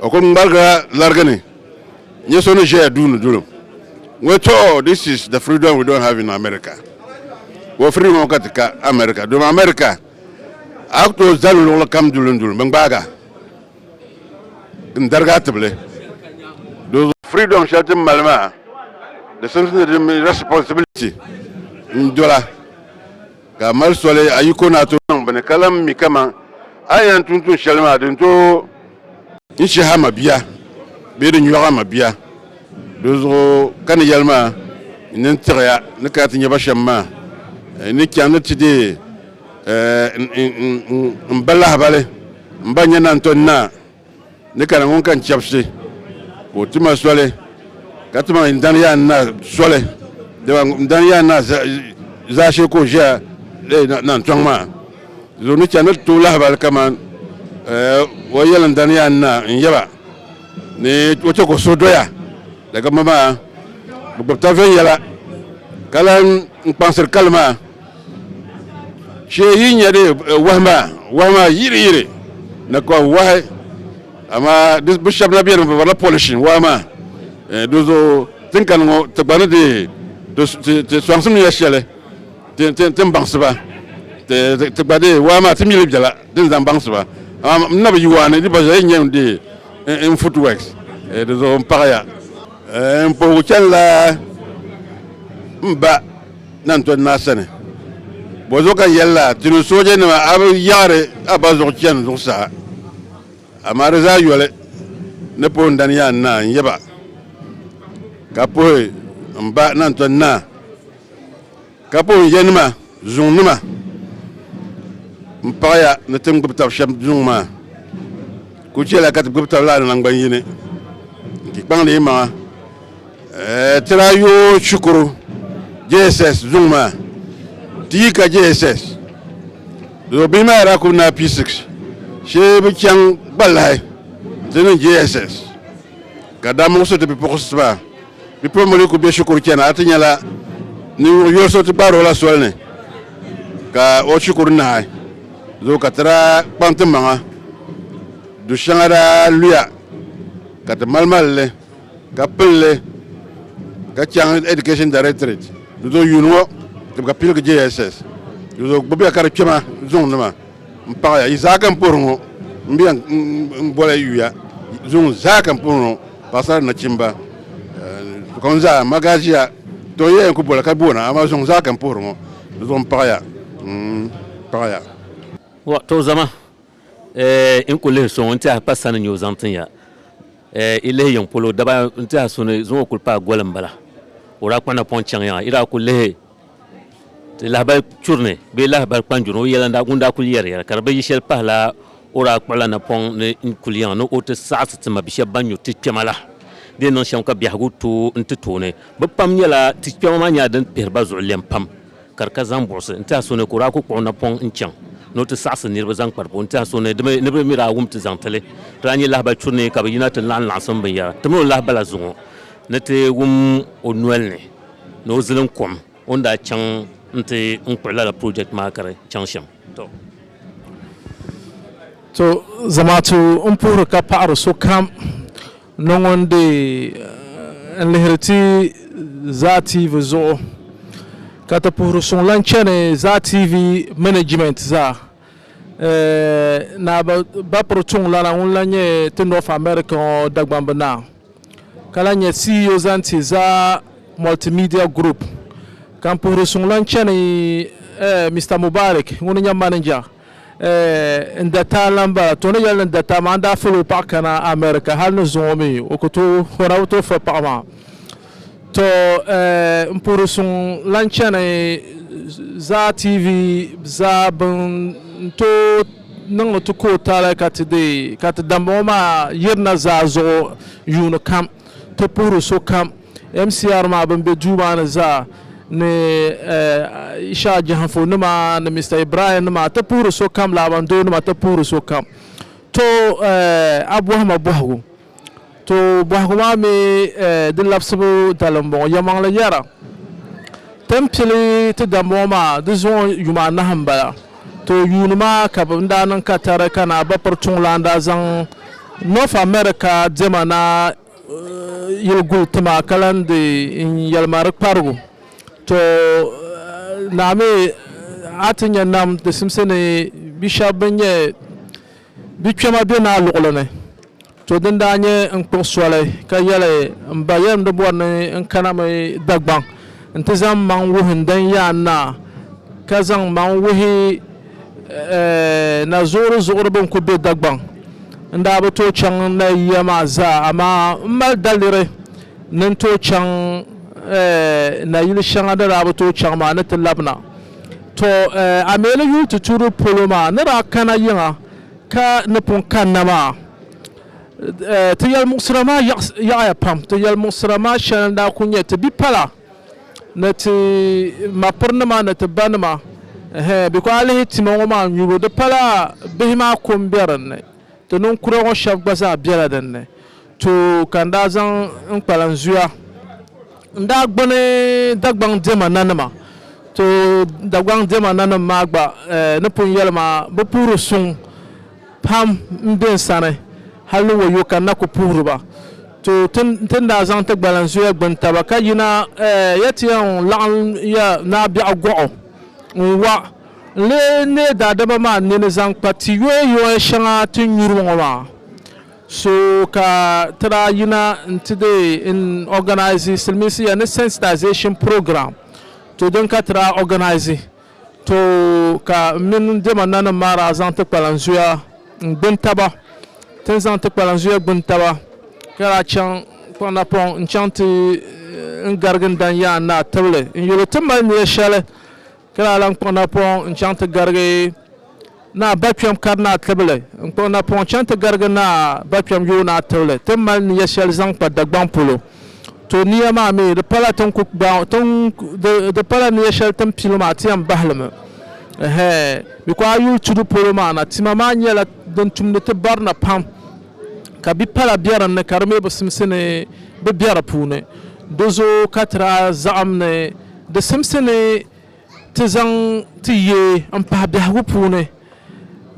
A: o kuli ŋmarigila larigi ni nyɛ so ni ʒɛya duuni dulim ŋɔ to oh, this is the freedom we don't have in America wɔ freedom ŋɔ ka ti ka America domi America A ku tooi zali luɣili kam duli duli bɛ gbaag a n-darig a tibili di zuɣu. Freedom shɛli ti ni mali maa di simsi ni di mini responsibility n-dola ka a mali soli a yiko ni a tooi niŋ bini ka lan mi kaman a ni yɛn tum tuun shɛli maa di ni tooi N shih a mabia bee di nyɔɣ a mabia, dinzuɣu ka ni yɛli ma, N ni tiɣi ya ni kana ti nya ba shɛm maa. N ni chaŋ ni ti deei m ba lahibali, m ba nya naan tɔn naa ni kana ŋun ka n chɛbisi, ka o ti ma soli, ka ti ma n dan yaan naa soli, dama m dan yaan naa zaashee ka o ʒiya naan tɔŋ maa. Zo ni chani ti tooi lahibali kaman eh, o yɛliŋdani yaa n-na n-yɛ ba ni o chɛ ka o suhu doya daga ma maa bi gbubi taba viɛnyɛla ka lan n kpaŋsiri kali maa shee yi nya di eh, wahi maa wahi maa yiri yiri na ka wahi amaa di bi shɛba na beni bi barila polish wahi maa eh, di zo tinkani ŋɔ ti gba ni di ti ti ti sɔŋsim ya shɛli Ti ni baŋsi ba, ti gba dee waa maa ti mi li bela di ni zaŋ baŋsi ba. Amaa m nabi yuwa ni di gba zuɣu n yɛn dee n footworks di zuɣu n paɣi ya. N puhigu chani la m ba Nantɔri Naa sani. Bɔzuɣu ka n yɛli la ti ni sooja nima a bi yaɣiri a ba zuɣu chani zuɣusaa. Amaa di zaa yoli ni puhi n dani yaa n naa n yaba ka puhi m ba Nantɔri Naa. Ka po n yanima zuŋ nima n paɣaya ni ti ni gbubi tab shɛm zuŋ maa, kul chɛla ka ti gbubi tab lala naŋgban yini n ti kpaŋdi yi maŋa ti daa yoo shikuru JSS zuŋ maa ti yi ka JSS do bihi maa daa kul naai P6 shee bi chaŋ gba lahi ti niŋ JSS ka daa muɣisi ti bipuɣinsi maa Bipuɣimbila ku be shikuru chani a ti nyɛla ninvuɣ yoli so ti kpaari o la soli ni ka o shikuru nahi zooi ka ti daa kpaŋ ti maŋa du shɛŋa daa luya ka ti malimali li ka pili li ka chaŋ Education Directorate di zuɣu yuuni ŋɔ tibika piligi JSS di zuɣu gbubiya ka di kpɛma zuŋnima. N paɣaya, yi zaa ka n puhiri ŋɔ, m be yan n boli yuya zuŋɔ zaa ka n puhiri ŋɔ, paɣasara ni nachimba, sokam zaa, ma gaa ʒiya, tɔ yiya yan ku boli ka boona, amaa zuŋɔ zaa ka n puhiri ŋɔ, di zuɣu n paɣaya, n paɣaya. Wah, tɔ zama, eh, n ku lihi so ŋɔ n tɛha pa sani n-nyɛ o zaŋ tin ya, eh, yi lihi yiŋ polo, daba n tɛha so ni zuŋɔ kuli paai goli m-bala, o daa kpuɣina pɔŋ chaŋ yaŋa, yi daa ku lihi. lahabali churi ni bee lahabali kpanjuri o yɛla ŋun daa kuli yɛri yɛra ka di bi yi shɛli pahila o daa kpuɣila napɔŋ ni n kuli yaŋa ni o ti saɣisi ti ma bi shɛba ban nyuri ti kpɛma la di yɛn niŋ shɛm ka biɛhigu tooi n ti tooni bi pam nyɛla ti kpɛma maa nyɛla din pihiri ba zuɣu lɛm pam ka di ka zaŋ buɣisi n tiɛha so ni ka o daa kuli kpuɣi napɔŋ n chaŋ ni o ti saɣisi niriba zaŋ kpari puuni n tiɛha so ni di mi ni bi mi daa wum ti zaŋ tili ti daa nyɛ lahabali churi ni ka bi yina ti laɣim laɣisim binyɛra ti mi o lahabala zuŋɔ ni ti wum o noli ni ni o zilim kom o ni daa chaŋ n-ti n kpuɣi lala project maa ka di chaŋ shɛm. To zamaatu n puhiri ka paɣiri sokam ni ŋun di n lihiri ti Zaa TV zuɣu ka ti puhiri suŋ lahi chani Zaa TV management zaa. Naa Bapro Chung Lana ŋun lahi nyɛ ti North America ŋɔ Dagbamb Naa ka lahi nyɛ CEO zaŋ ti Za Multimedia Group ka n puhiri suŋlan chani Mister Mubarik ŋuni nyɛ manager n dataa lan bala. To ni yɛli ni dataa maa n daa fali o paɣa kana America hali ni zuŋɔ mi o ku tooi hɔra o tooi fali paɣa maa. To n puhiri suŋ lan chani Zaa TV zaa bɛn tooi niŋdi ti ka o taali ka ti deei ka ti dambaŋɔ maa yirina zaa zuɣu yuuni kam ti puhiri sokam MCR maa bɛn be duu maa ni zaa ni Isha Jahanfo nima ni Mr Ibrahim nima ti puhiri sokam Laabandoo nima ti puhiri sokam. To a bɔhima bɔhigu. To bɔhigu maa mi di labisibu dali m-bɔŋɔ, Yɛlimaŋli yɛra, Ti ni pili ti dambɔŋɔ maa di zuŋɔ yuma anahi m-bala. To yuuni maa ka bɛ ni daa niŋ katari ka naa ba piri tuŋlan daa zaŋ North America diɛma naa yili guli ti ma ka lan di n yɛlima di kparigu. To naa mi a ti nya nam di simsi ni bi shɛba bɛn nyɛ Di kpɛma be naa luɣili ni. To din daa nyɛ n kpuɣi soli ka yɛli m ba yɛlim di bɔri ni n kana mi Dagbaŋ nti zaŋ m maŋ wuhi n dan yaan naa ka zaŋ m maŋ wuhi na zuɣuri zuɣuri bɛn kuli be Dagbaŋ. N daa bi tooi chaŋ n na yiya maa zaa amaa m mali daliri ni n tooi chaŋ nayili shɛŋa ni daa bi tooi chaŋ maa ni ti labina. To a mi ni yuli ti tuuri polo maa ni daa kana yiŋa ka ni pun kanna maa, ti yɛlimuɣisira maa yaɣiya pam. Ti yɛlimuɣisira maa shɛli n-daa kuli nyɛ ti bipala ni ti mapirinima ni ti banima ɛhɛɛn bikɔɔ a lihi tima ŋɔ maa nyubu di pala bihi maa ko m-be din ni, ti ninkura ŋɔ shɛba gba zaa bela din ni. Too ka n daa zaŋ n kpalan zuya n daa gbuni Dagbaŋ diɛma nanima. Too Dagbaŋ diɛma nanim maa gba eh, ni pun yɛli maa, bi puhiri suŋ pam m-be n sani hal ni wayo ka n na ku puhiri ba. Too ti ti ni daa zaŋ ti gbalan zuya gbuni taba ka yina eh, ya ti yɛn laɣim ya Naa Biɛɣu Gɔɣu n-wa n lee neei daadama maa nini zaŋ kpa ti yoya yoya shɛŋa ti nyuri ŋɔ maa. So ka ti daa yina nti dee n organise silimiinsi ya ni sensitization program to din ka ti daa organise to ka m mini n dɛma nanim maa daa zaŋ ti kpalan zuya n gbuni taba tin zaŋ ti kpalan zuya gbuni taba ka daa chaŋ kpaŋ na pɔŋ n chaŋ ti n garigi n dan yaan naa tibili n yuli ti mali niya shɛli Ka daa lan kpuɣi napɔŋ n-chaŋ ti garigi Naa Bakpɛm Karinaa Tibili. N kpuɣi napɔŋ chaŋ ti garigi Naa Bakpɛm Yoonaa Tibili ti mali nia shɛli zaŋ kpa Dagbaŋ polo. To nia maa mi, di pala ti ni ku gbaai o, di pala nia shɛli ti ni pili maa ti yɛn bahi li mi. Ɛhɛɛ, mi ku a yuli tudu polo maa na, tima maa nyɛla din tumdi ti barina pam, ka bi pala be din ni ka di mi bi simsi ni bi be di puuni. Di zooi ka ti daa zaɣim ni Di simsi ni ti zaŋ ti ye m-pahi biɛhigu puuni,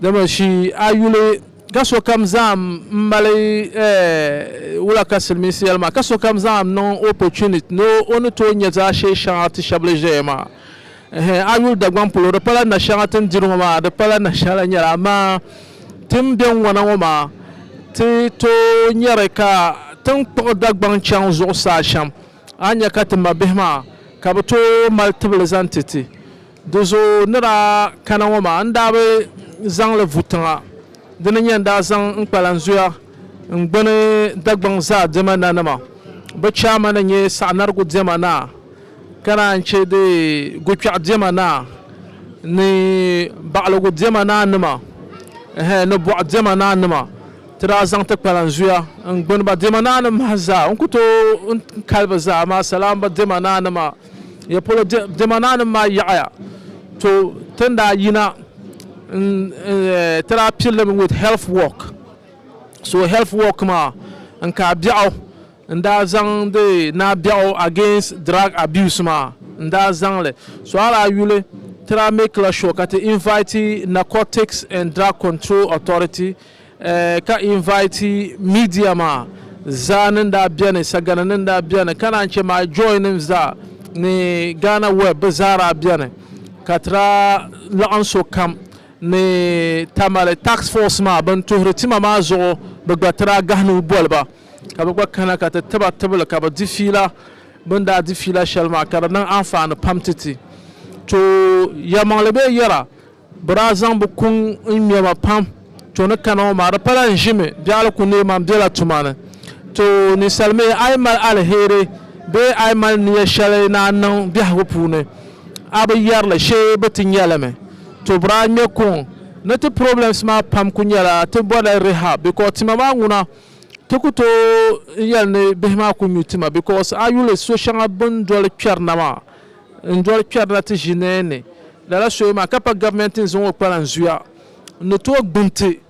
A: dama shi a yuli ka sokam zaŋm m-mali wula ka Silimiinsi yɛli maa, ka sokam zaŋm niŋ opportunity ni o ni tooi nya zaashee shɛŋa ti shɛba ni ʒeya maa. Ɛhɛn, a yuli Dagbaŋ polo di pala nashɛŋa ti ni diri ŋɔ maa, di pala nashɛŋa lahi nyɛli amaa ti ni be ŋwana ŋɔ maa ti tooi nyari ka ti ni kpuɣi Dagbaŋ chaŋ zuɣusaa shɛm. A nya ka ti mabihi maa ka bɛ tooi mali tibili zaŋ ti ti. Di zuɣu ni daa kana ŋɔ maa n daa bi zaŋ li vu tiŋa. Di ni nya n daa zaŋ n kpalan zuya n gbuni Dagbaŋ zaa diɛma nanima. Bɛ chairman n-nyɛ Saɣinarigu diɛma naa ka naan che di Gukpɛɣu diɛma naa ni Baɣiligu diɛma naa nima ni Bɔɣu diɛma naa nima. Ti daa zaŋ ti kpalan zuya n-gbuni ba diɛma naa ni mahi zaa. N ku tooi n kali bɛ zaa amaa salaam ba diɛma naa ni maa. Ya polo diɛma naa nim maa yaɣiya to ti ni daa yina n-ti daa piri li mi with health work. So health work maa n ka biɛɣu n daa zaŋ di naa biɛɣu against drug abuse maa n daa zaŋ li. So a daa yuli ti daa make la sure ka ti invite Narcotics and Drug Control Authority ka invite media maa zaa ni daa beni sagana ni daa beni ka naan che my joy nim zaa ni Ghana web bi zaa daa beni ka ti daa laɣim so kam ni Tamale task force maa bin tuhiri tima maa zuɣu bi gba ti daa gahi nuu boli ba ka bi gba kana ka ti tiba tibili ka bi di fiila bin daa di fiila shɛli maa ka di niŋ anfaani pam titi tooi yɛlimaŋli bee yɛra Bɛ daa zaŋ bɛ kuŋ n-ŋme ma pam. To ni kana ŋɔ maa, di pala n ʒimi biɛɣili ku neei ma m-bela tuma ni. To ninsal mi, a yi mali aliheri bee a yi mali nia shɛli ni a niŋ biɛhigu puuni, a bi yɛri li shee bɛ ti nya li mi. To bɛ daa ŋme kuŋ ni ti problems maa pam ku nyɛla ti bɔrila rehab because tima maa ŋuna ti ku tooi n-yɛli ni bihi maa ku nyu tima because a yuli so shɛŋa bɛ ni doli kpɛri na maa N doli kpɛrila ti ʒini ni lala soya maa ka pa Gabimɛnti ni zaŋ o kpalan zuya n ni tooi gbuni ti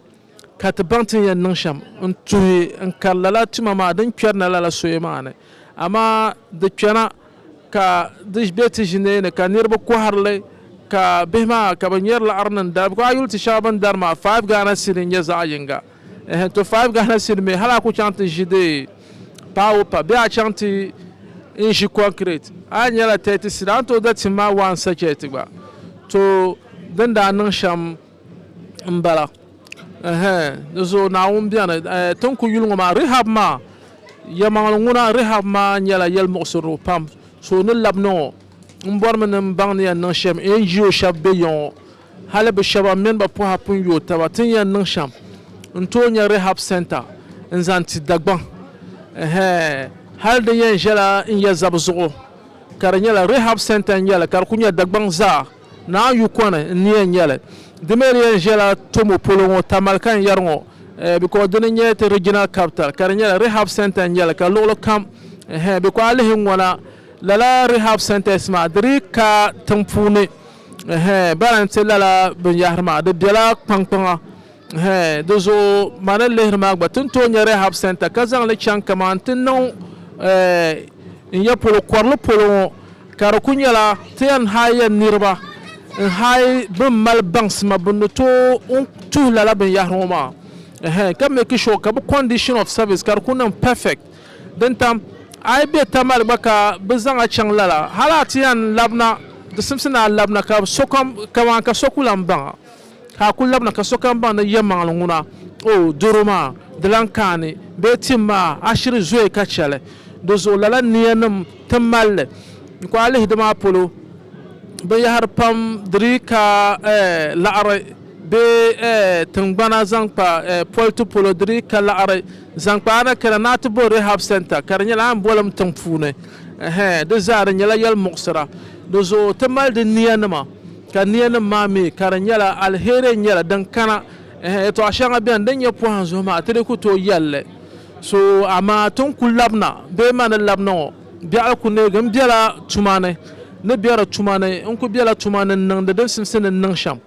A: ka ti baŋ ti ni yɛn niŋ shɛm n tuhi n kari lala tuma maa din kpɛrina lala soya maa ni. Amaa di kpɛna ka di be ti ʒini ni ka niriba kɔhiri li ka bihi maa ka bɛ ŋmɛri laɣiri niŋ dali bikɔŋ a yi yuli ti shɛŋa bɛ ni dari maa five Ghana cedi n-nyɛ zaɣ yiŋga. Ɛhɛ, to five gahina sini mi, hali a ku chaŋ ti ʒi di paawo pa bee a chaŋ ti n ʒi kɔnkirɛt, a nyɛla thirty sini, a ni tooi da tim ma one sachɛt gba. To, din daa niŋ shɛm m-bala. Ɛhɛ, di zuɣu Naawuni beni. Ɛɛ, ti ni ku yuli ŋɔ maa, Rehab maa, yɛlimaŋli ŋuna, Rehab maa nyɛla yɛlimuɣisirili pam. So ni labina ŋɔ, m bɔrimi ni m baŋ ni yɛn niŋ shɛm NGO shɛba be ya ŋɔ. Hali bɛ shɛba mini bɛ pɔha pun yooi taba ti ni yɛn niŋ shɛm n-tooi nya Rehab Centre n-zaŋ ti Dagbaŋ. Ɛhɛɛ hali di yɛn ʒɛla n ya zabi zuɣu ka di nyɛla Rehab Centre n-nyɛ li ka di kuli nyɛ Dagbaŋ zaa Naa Yukɔni n-ni yɛn nyɛ li. Di mi di yɛn ʒɛla Tomo polo ŋɔ Tamale ka n yɛri ŋɔ because dini n-nyɛ ti Regional Capital ka di nyɛla Rehab Centre n-nyɛ li ka luɣili kam ɛhɛɛ because a lihi ŋɔna lala Rehab Centres maa di dii ka tiŋ puuni Ɛhɛɛn, bɛ ni ti lala binyɛhiri maa, di bela kpaŋkpaŋa. Ɛhɛɛn, di zuɣu ma ni lihiri maa gba, ti ni tooi nya Rehab Centre ka zaŋ li chaŋ kaman ti niŋ ɛɛh n ya polo, kɔrili polo ŋɔ, ka di kuli nyɛla ti yɛn haai ya niriba n-haai bɛ ni mali baŋsima bɛ ni tooi tuhi lala binyɛhiri ŋɔ maa. Ɛhɛɛn, ka meeki shuwa ka bɛ condition of service ka di kuli niŋ perfect. Din tam, a yi be Tamale gba ka bɛ zaŋ a chaŋ lala, hal a ti yɛn labina, di simsi ni a labina ka sokam, kaman ka so ku lan baŋ a, ka a ku labina ka sokam baŋ ni yɛlimaŋli ŋuna, O, doro maa, di lan kaani, bee tim maa, a shiri zooi ka chɛ li. Di zuɣu lala niyanim ti mali li. N ku a lihi di maa polo, binyɛhiri pam di dii ka laɣiri, bee tiŋgbana zaŋ kpa politi polo di dii ka laɣiri. Zaŋ kpa a ni kana ni a ti bo Rehab Centre ka di nyɛla Anbɔlim tiŋ puuni. Ɛhɛɛ, di zaa di nyɛla yɛli muɣisira. Di zuɣu ti mali di nia nima ka nia nim maa mi ka di nyɛla aliheri n nyɛli din kana. Ɛhɛɛ, yɛtɔɣa shɛŋa beni din nyɛ pɔhim zuɣu maa ti di ku tooi yɛli li. So amaa ti ni ku labina bee ma ni labina ŋɔ biɛɣu ku neegi n bela tuma ni ni bɛ di tuma ni n ku bela tuma ni n niŋdi din simsi ni n niŋ shɛm.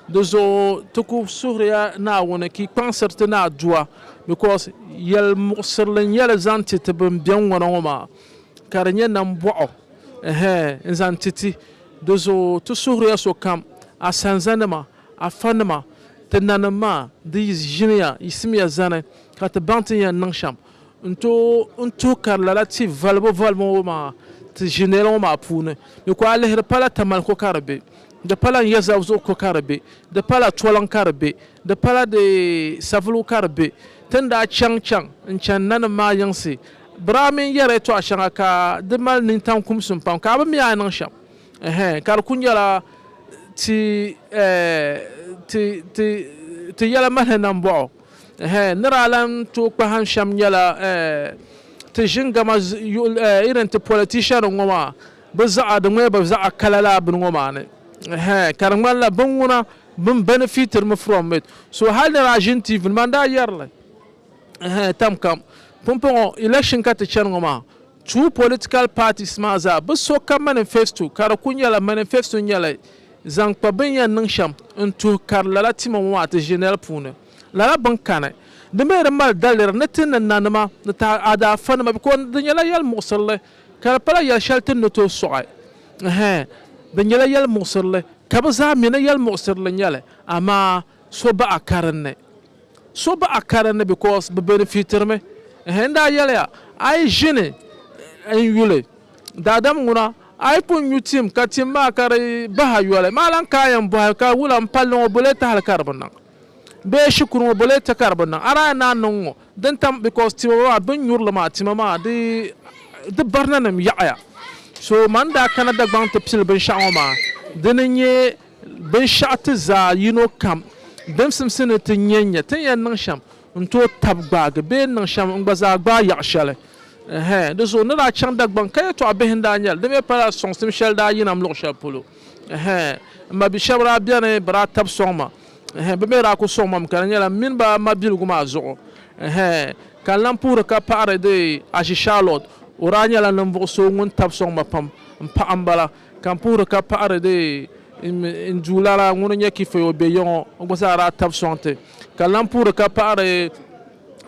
A: Di zuɣu ti ku suhiriya Naawuni ka yi kpaŋsiri ti ni a Duwa, because yɛlmuɣisirili n-nyɛ li zaŋ ti ti bɛn beni ŋɔ na ŋɔ maa, ka di nyɛ nambɔɣu, ɛhɛɛ, n-zaŋ ti ti. Di zuɣu ti suhiriya sokam, a sanzanima, a fanima, ti nanim maa, di yi ʒiniya, yiɣisimiya zani, ka ti baŋ ti ni yɛn niŋ shɛm. N tooi n tuhi kari lala ti valibu valibu ŋɔ maa ti ʒinɛli ŋɔ maa puuni. Di ku a lihiri pala Tamale ko ka di be, di pala Nyɛzavuzuɣu ko ka di be, di pala Toliŋ ka di be, di pala di Savulugu ka di be. Ti ni daa chaŋ chaŋ n-chani nanim maa yiŋsi, biraa mini yɛri tɔɣa shɛŋa ka di mali nintaŋ kumsim pam ka a bi mi a ni niŋ shɛm ɛhɛn ka di ku nyɛla ti ti ti ti yɛla mahili nambɔɣu. Ɛhɛɛ, ni daa lan tooi kpahim shɛm nyɛla, ɛɛh, ti ʒin gama yuɣil, ɛɛh, irin ti politician ŋɔ maa, bɛ zaɣa, di ŋmɛya bɛ zaɣa kala lala bini ŋɔ maa ni. Ɛhɛɛ, ka di ŋmanila bini ŋuna bini benefit-ri mi from it. So hali ni daa ʒini TV ni maa n-daa yɛri li. Ɛhɛɛ, tam kam. Pumpɔŋɔ, election ka ti chani ŋɔ maa, Two political parties maa zaa bi so ka manifesto ka di ku nyɛla manifesto nyɛla zaŋ kpa bini yɛn niŋ shɛm n tuhi kari lala tima ŋɔ maa ti ʒi nɛli puuni lala bini kani. Di mi di mali daliri ni ti ni nanima ni taada afa nima because di nyɛla yɛli muɣisirili ka di pala yɛli shɛli ti ni tooi sɔɣi hɛɛn di nyɛla yɛli muɣisirili ka bi zaa mi ni yɛli muɣisirili nyɛli amaa so baɣa karinli. So baɣ a karinli because bɛ benefitiri mi. N daa yɛliya, A yi ʒini n-yuli daadam ŋuna, a yi pun nyu tim ka tim maa ka di bahi a yoli, maa lan kaai yɛn bɔhi ka wula m-palli ŋɔ bole tahili ka di bi niŋ? Bee shikuru ŋɔ bole ti ka di bi niŋ? A daa yɛn naan niŋ ŋɔ din tam because tima maa bɛ ni nyuri li maa tima maa di barinanim yaɣiya. So man daa kana Dagbaŋ ti pili binshɛɣu ŋɔ maa, dini n-nyɛ Binshɛɣu ti zaa yino kam din simsi ni ti nya n-nya, ti ni yɛn niŋ shɛm n-tooi tab gbaagi bee n-niŋ shɛm n-gba zaa gbaai yaɣ shɛli. Ɛhɛn, di zuɣu n ni daa chaŋ Dagbaŋ ka yɛtɔɣ bihi n-daa nya li, di mi pala sɔŋsim shɛli daa yina m luɣ shɛli polo. Ɛhɛn, m ma bi shɛb daa beni bɛ daa tab sɔŋ ma. Ɛhɛn, bɛ mi daa ku sɔŋ ma mi ka di nyɛla m mini ba mabiligu maa zuɣu. Ɛhɛn, ka n lan puhiri ka paɣiri dee Ashi Charlotte, o daa nyɛla ninvuɣ so ŋun tab sɔŋ ma pam m paɣa m-bala. Ka n puhiri ka paɣiri di n Duuma lala ŋun nyɛ kifaya o be yiŋɔ o gba zaa daa tabi sɔŋ ti. Ka lan puhiri ka paɣiri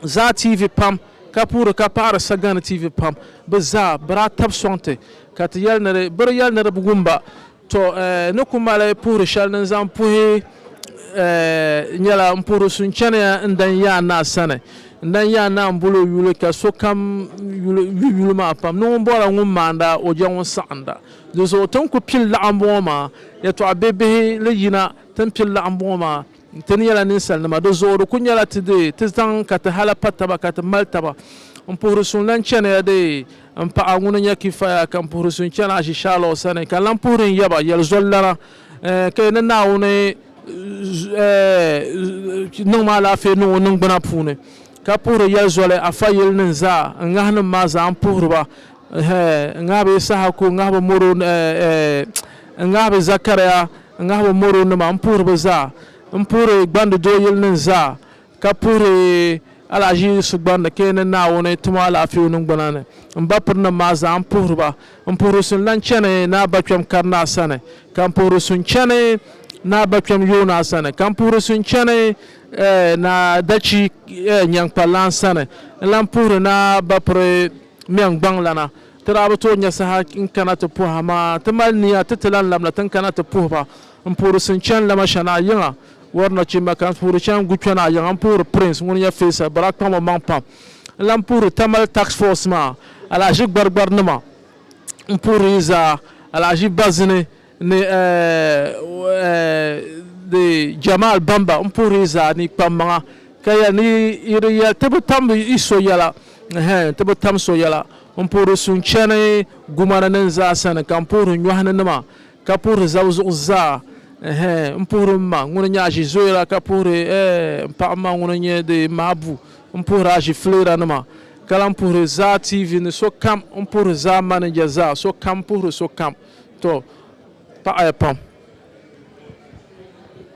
A: Zaa TV pam ka puhiri ka paɣiri Sagani TV pam bɛ zaa bɛ daa tabi sɔŋ ti ka ti yɛli ni bɛ di yɛli ni di bi wum ba. Tɔ! Ni ku mali puhiri shɛli ni n zaŋ puhi nyɛla m puhiri suhuchɛniya n dan Yaa Naa sani. N daa yaa naa m-bol o yuli ka sokam yuli yu yuli maa pam ni ŋun bɔhiri ŋun maanda o jɛ ŋun saɣinda. Di zuɣu ti ni ku pili laɣimbɔŋɔ maa, yɛtɔɣ bihibihi li yina ti ni pili laɣimbɔŋɔ maa, Ti ni nyɛla ninsalinima, di zuɣu di ku nyɛla ti di ti zaŋ ka ti hala pa taba ka ti mali taba. M puhiri suŋ lan chani ya di m paɣa ŋuni n-nyɛ Kifaya ka m puhiri suŋ chani Azishaalaw sani ka n lan puhiri n yaba yɛli zɔlilana. Ka yi ni Naawuni niŋm alaafee niŋ o niŋgbuna puuni, ka puhiri yɛli zoli afa yilinim zaa, n ŋahinim maa zaa n puhiri ba, n ŋahi bɛ Yisahaku, n ŋahi bɛ Moro, n ŋahi bɛ Zɛkariya, n ŋahi bɛ Moronima, m puhiri bɛ zaa, m puhiri gbandi doo yilinim zaa, ka puhiri alahiʒi sugbani ni ka yi ni Naawuni ti ma alaafee o niŋgbuna ni, m ba pirinim maa zaa m puhiri ba. M puhiri su n-lan chani Naa Bakpɛm Karinaa sani, ka m puhiri su n-chani Naa Bakpɛm Yoonaa sani, ka m puhiri su n-chani Naa Dachi Nyaŋkpallan sani, n lan puhiri Naa Bapiri Mɛŋgbaŋlana. Ti daa bi tooi nya saha n-kana ti puhi, amaa ti mali nia ti ti lan labina ti ni kana ti puhi ba. N puhiri Sinchan Lamashanaa yiŋa wari nachimba ka n puhiri Chan Gukpyanaa yiŋa. N puhiri Prince ŋun nyɛ Faysal Barak kpaŋ o maŋ pam. N lahi puhiri Tamale Tax Force maa alahaji gbarigbarinima. N puhiri yi zaa alahaji Bazini ni di Jamal Bamba. N puhiri yi zaa ni yi kpam maŋa ka yɛli ni yi di yɛli ti bi tam yi so yɛla ɛhɛn ti bi tam so yɛla. N puhiri Sunchani Gumani nin zaa sani ka n puhiri Nyɔhini nima. Ka puhiri zab zuɣu zaa, Ɛhɛɛ, m puhiri m ma ŋuni nyɛ aʒizoyira, ka puhiri, Ɛɛh, m paɣ ma ŋuni nyɛ di mabu, m puhiri aʒifleeranima, ka lan puhiri zaa TV ni sokam, m puhiri zaa maninja zaa, sokam puhiri sokam. Tɔ! Paɣiya pam.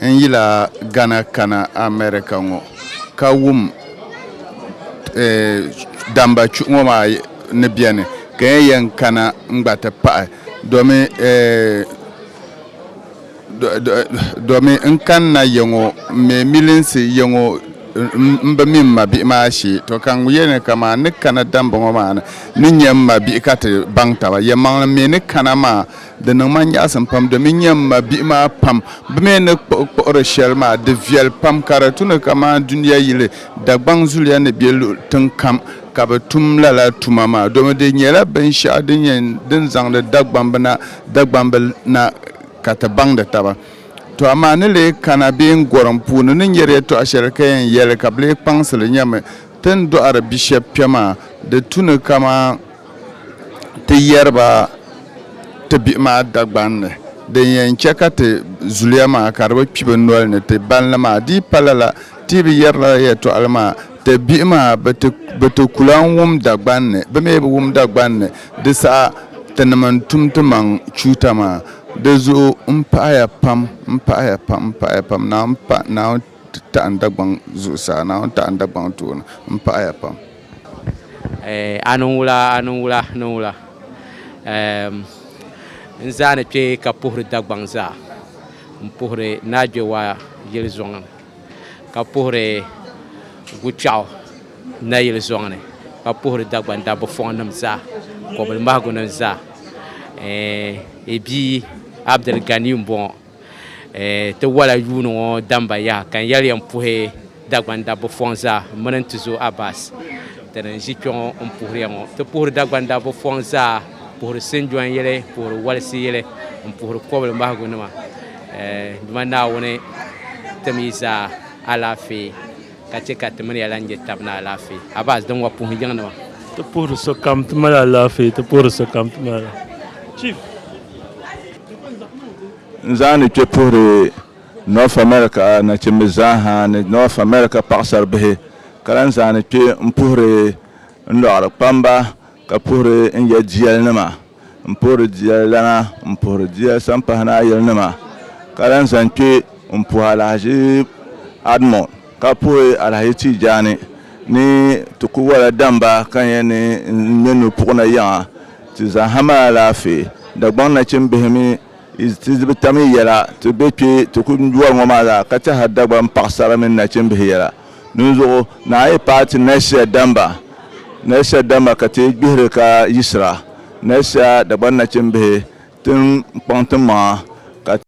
A: N yila Ghana kana America ŋɔ ka wum damba chuɣu ŋɔ maa ni beni ka n yɛn kana n gba ti pahi domi domi n kanna yiŋɔ m me milinsi yiŋɔ m bi mi m mabihi maa shee to ka n yɛli ni kaman n ni kana damba ŋɔ maa ni n ni nya m mabihi ka ti baŋ taba yɛmaŋli me ni kana maa. Di niŋ ma nyaɣisim pam domin n-nya m ma bihi maa pam bɛ mi ni kpuɣi kpuɣiri shɛli maa di viɛli pam ka di tu ni kamani dunia yili Dagbaŋ zuliya ni be luɣ tiŋ kam ka bɛ tum lala tuma maa domin di nyɛla binshɛɣu din nyɛ din zaŋdi Dagbambina Dagbamb na ka ti baŋdi taba. Tɔ amaa ni lee kana bee n gɔrim puuni ni nyari yɛtɔɣ shɛli ka yɛn yɛli ka bɛ lee kpaŋsi li nyami ti ni dɔɣiri bishɛb kpɛm maa di tu ni kamani ti yɛri ba ti bihi maa Dagban ni. Din yɛn chɛ ka ti zuliya maa ka di bi kpi bɛ noli ni ti bani li maa di yi pa lala, ti yi bi yɛri lala yɛtɔɣili maa, ti bihi maa bɛ ti ku lan wum Dagban ni. Bɛ mi bi wum Dagban ni, di saha tinim n-tum ti maŋ chuuta maa. Di zuɣu m pahia pam, m pahia pam, m pahia pam, Naawuni taɣi n Dagbaŋ zuɣusaa, Naawuni taɣi n Dagbaŋ tooni, m pahia pam. Eh, a niŋ wula, a niŋ wula, niŋ wula. Ehm, n zaa ni kpe ka puhiri Dagbaŋ zaa, n puhiri Naagbewa yili zɔŋ ni, ka puhiri Gukpɛɣu nayili zɔŋ ni, ka puhiri Dagbaŋ dabba fɔŋnim zaa, kɔbilimahigunima zaa. Eh, i bia Abdul Ganiyu m-bɔŋɔ. Ti wala yuuni ŋɔ damba yaha ka n yɛli ya m-puhi Dagban dabba fɔŋ zaa m-mini n tizo Abbas ti ni ʒi kpɛŋɔ m-puhiri ya ŋɔ. Ti puhiri Dagban dabba fɔŋ zaa, puhiri sinjɔn yili, puhiri walisi yili, m-puhiri kɔbili mahigu nima. Duma Naawuni tim yi zaa alaafee. ka chɛ ka ti mini ya lan je tab ni alaafee. Abaz din wa puhi yiŋnima. Ti puhiri sokam ti mali alaafee, ti puhiri sokam ti mali alaafee. Chief. N zaani kpe puhiri North America nachimbi zaa ha ni North America paɣasaribihi, ka lan zaani kpe m-puhiri n lɔɣiri kpamba, Ka puhiri n ya jiɛlinima, m puhiri jiɛlilana, m puhiri jiɛl sampahinayilinima, ka lan zaŋ kpe m puhi alahichi Admɔ, ka puhi alahichi Tiijaani ni ti ku wala damba ka n yɛn ni n ŋme nu puɣina yiŋa. Ti zaŋ ha mali alaafee. Dagbaŋ nachimbihi mi, ti bi tam yi yɛla, ti be kpe ti ku wari ŋɔ maa zaa, ka tɛhiri Dagbaŋ paɣisara mini nachimbihi yɛla. Dinzuɣu na a yi paai ti Nɛsia damba, Nɛsia damba ka ti gbihiri ka yiɣisira, Nɛsia Dagban nachimbihi, ti ni kpaŋ timaŋa, ka.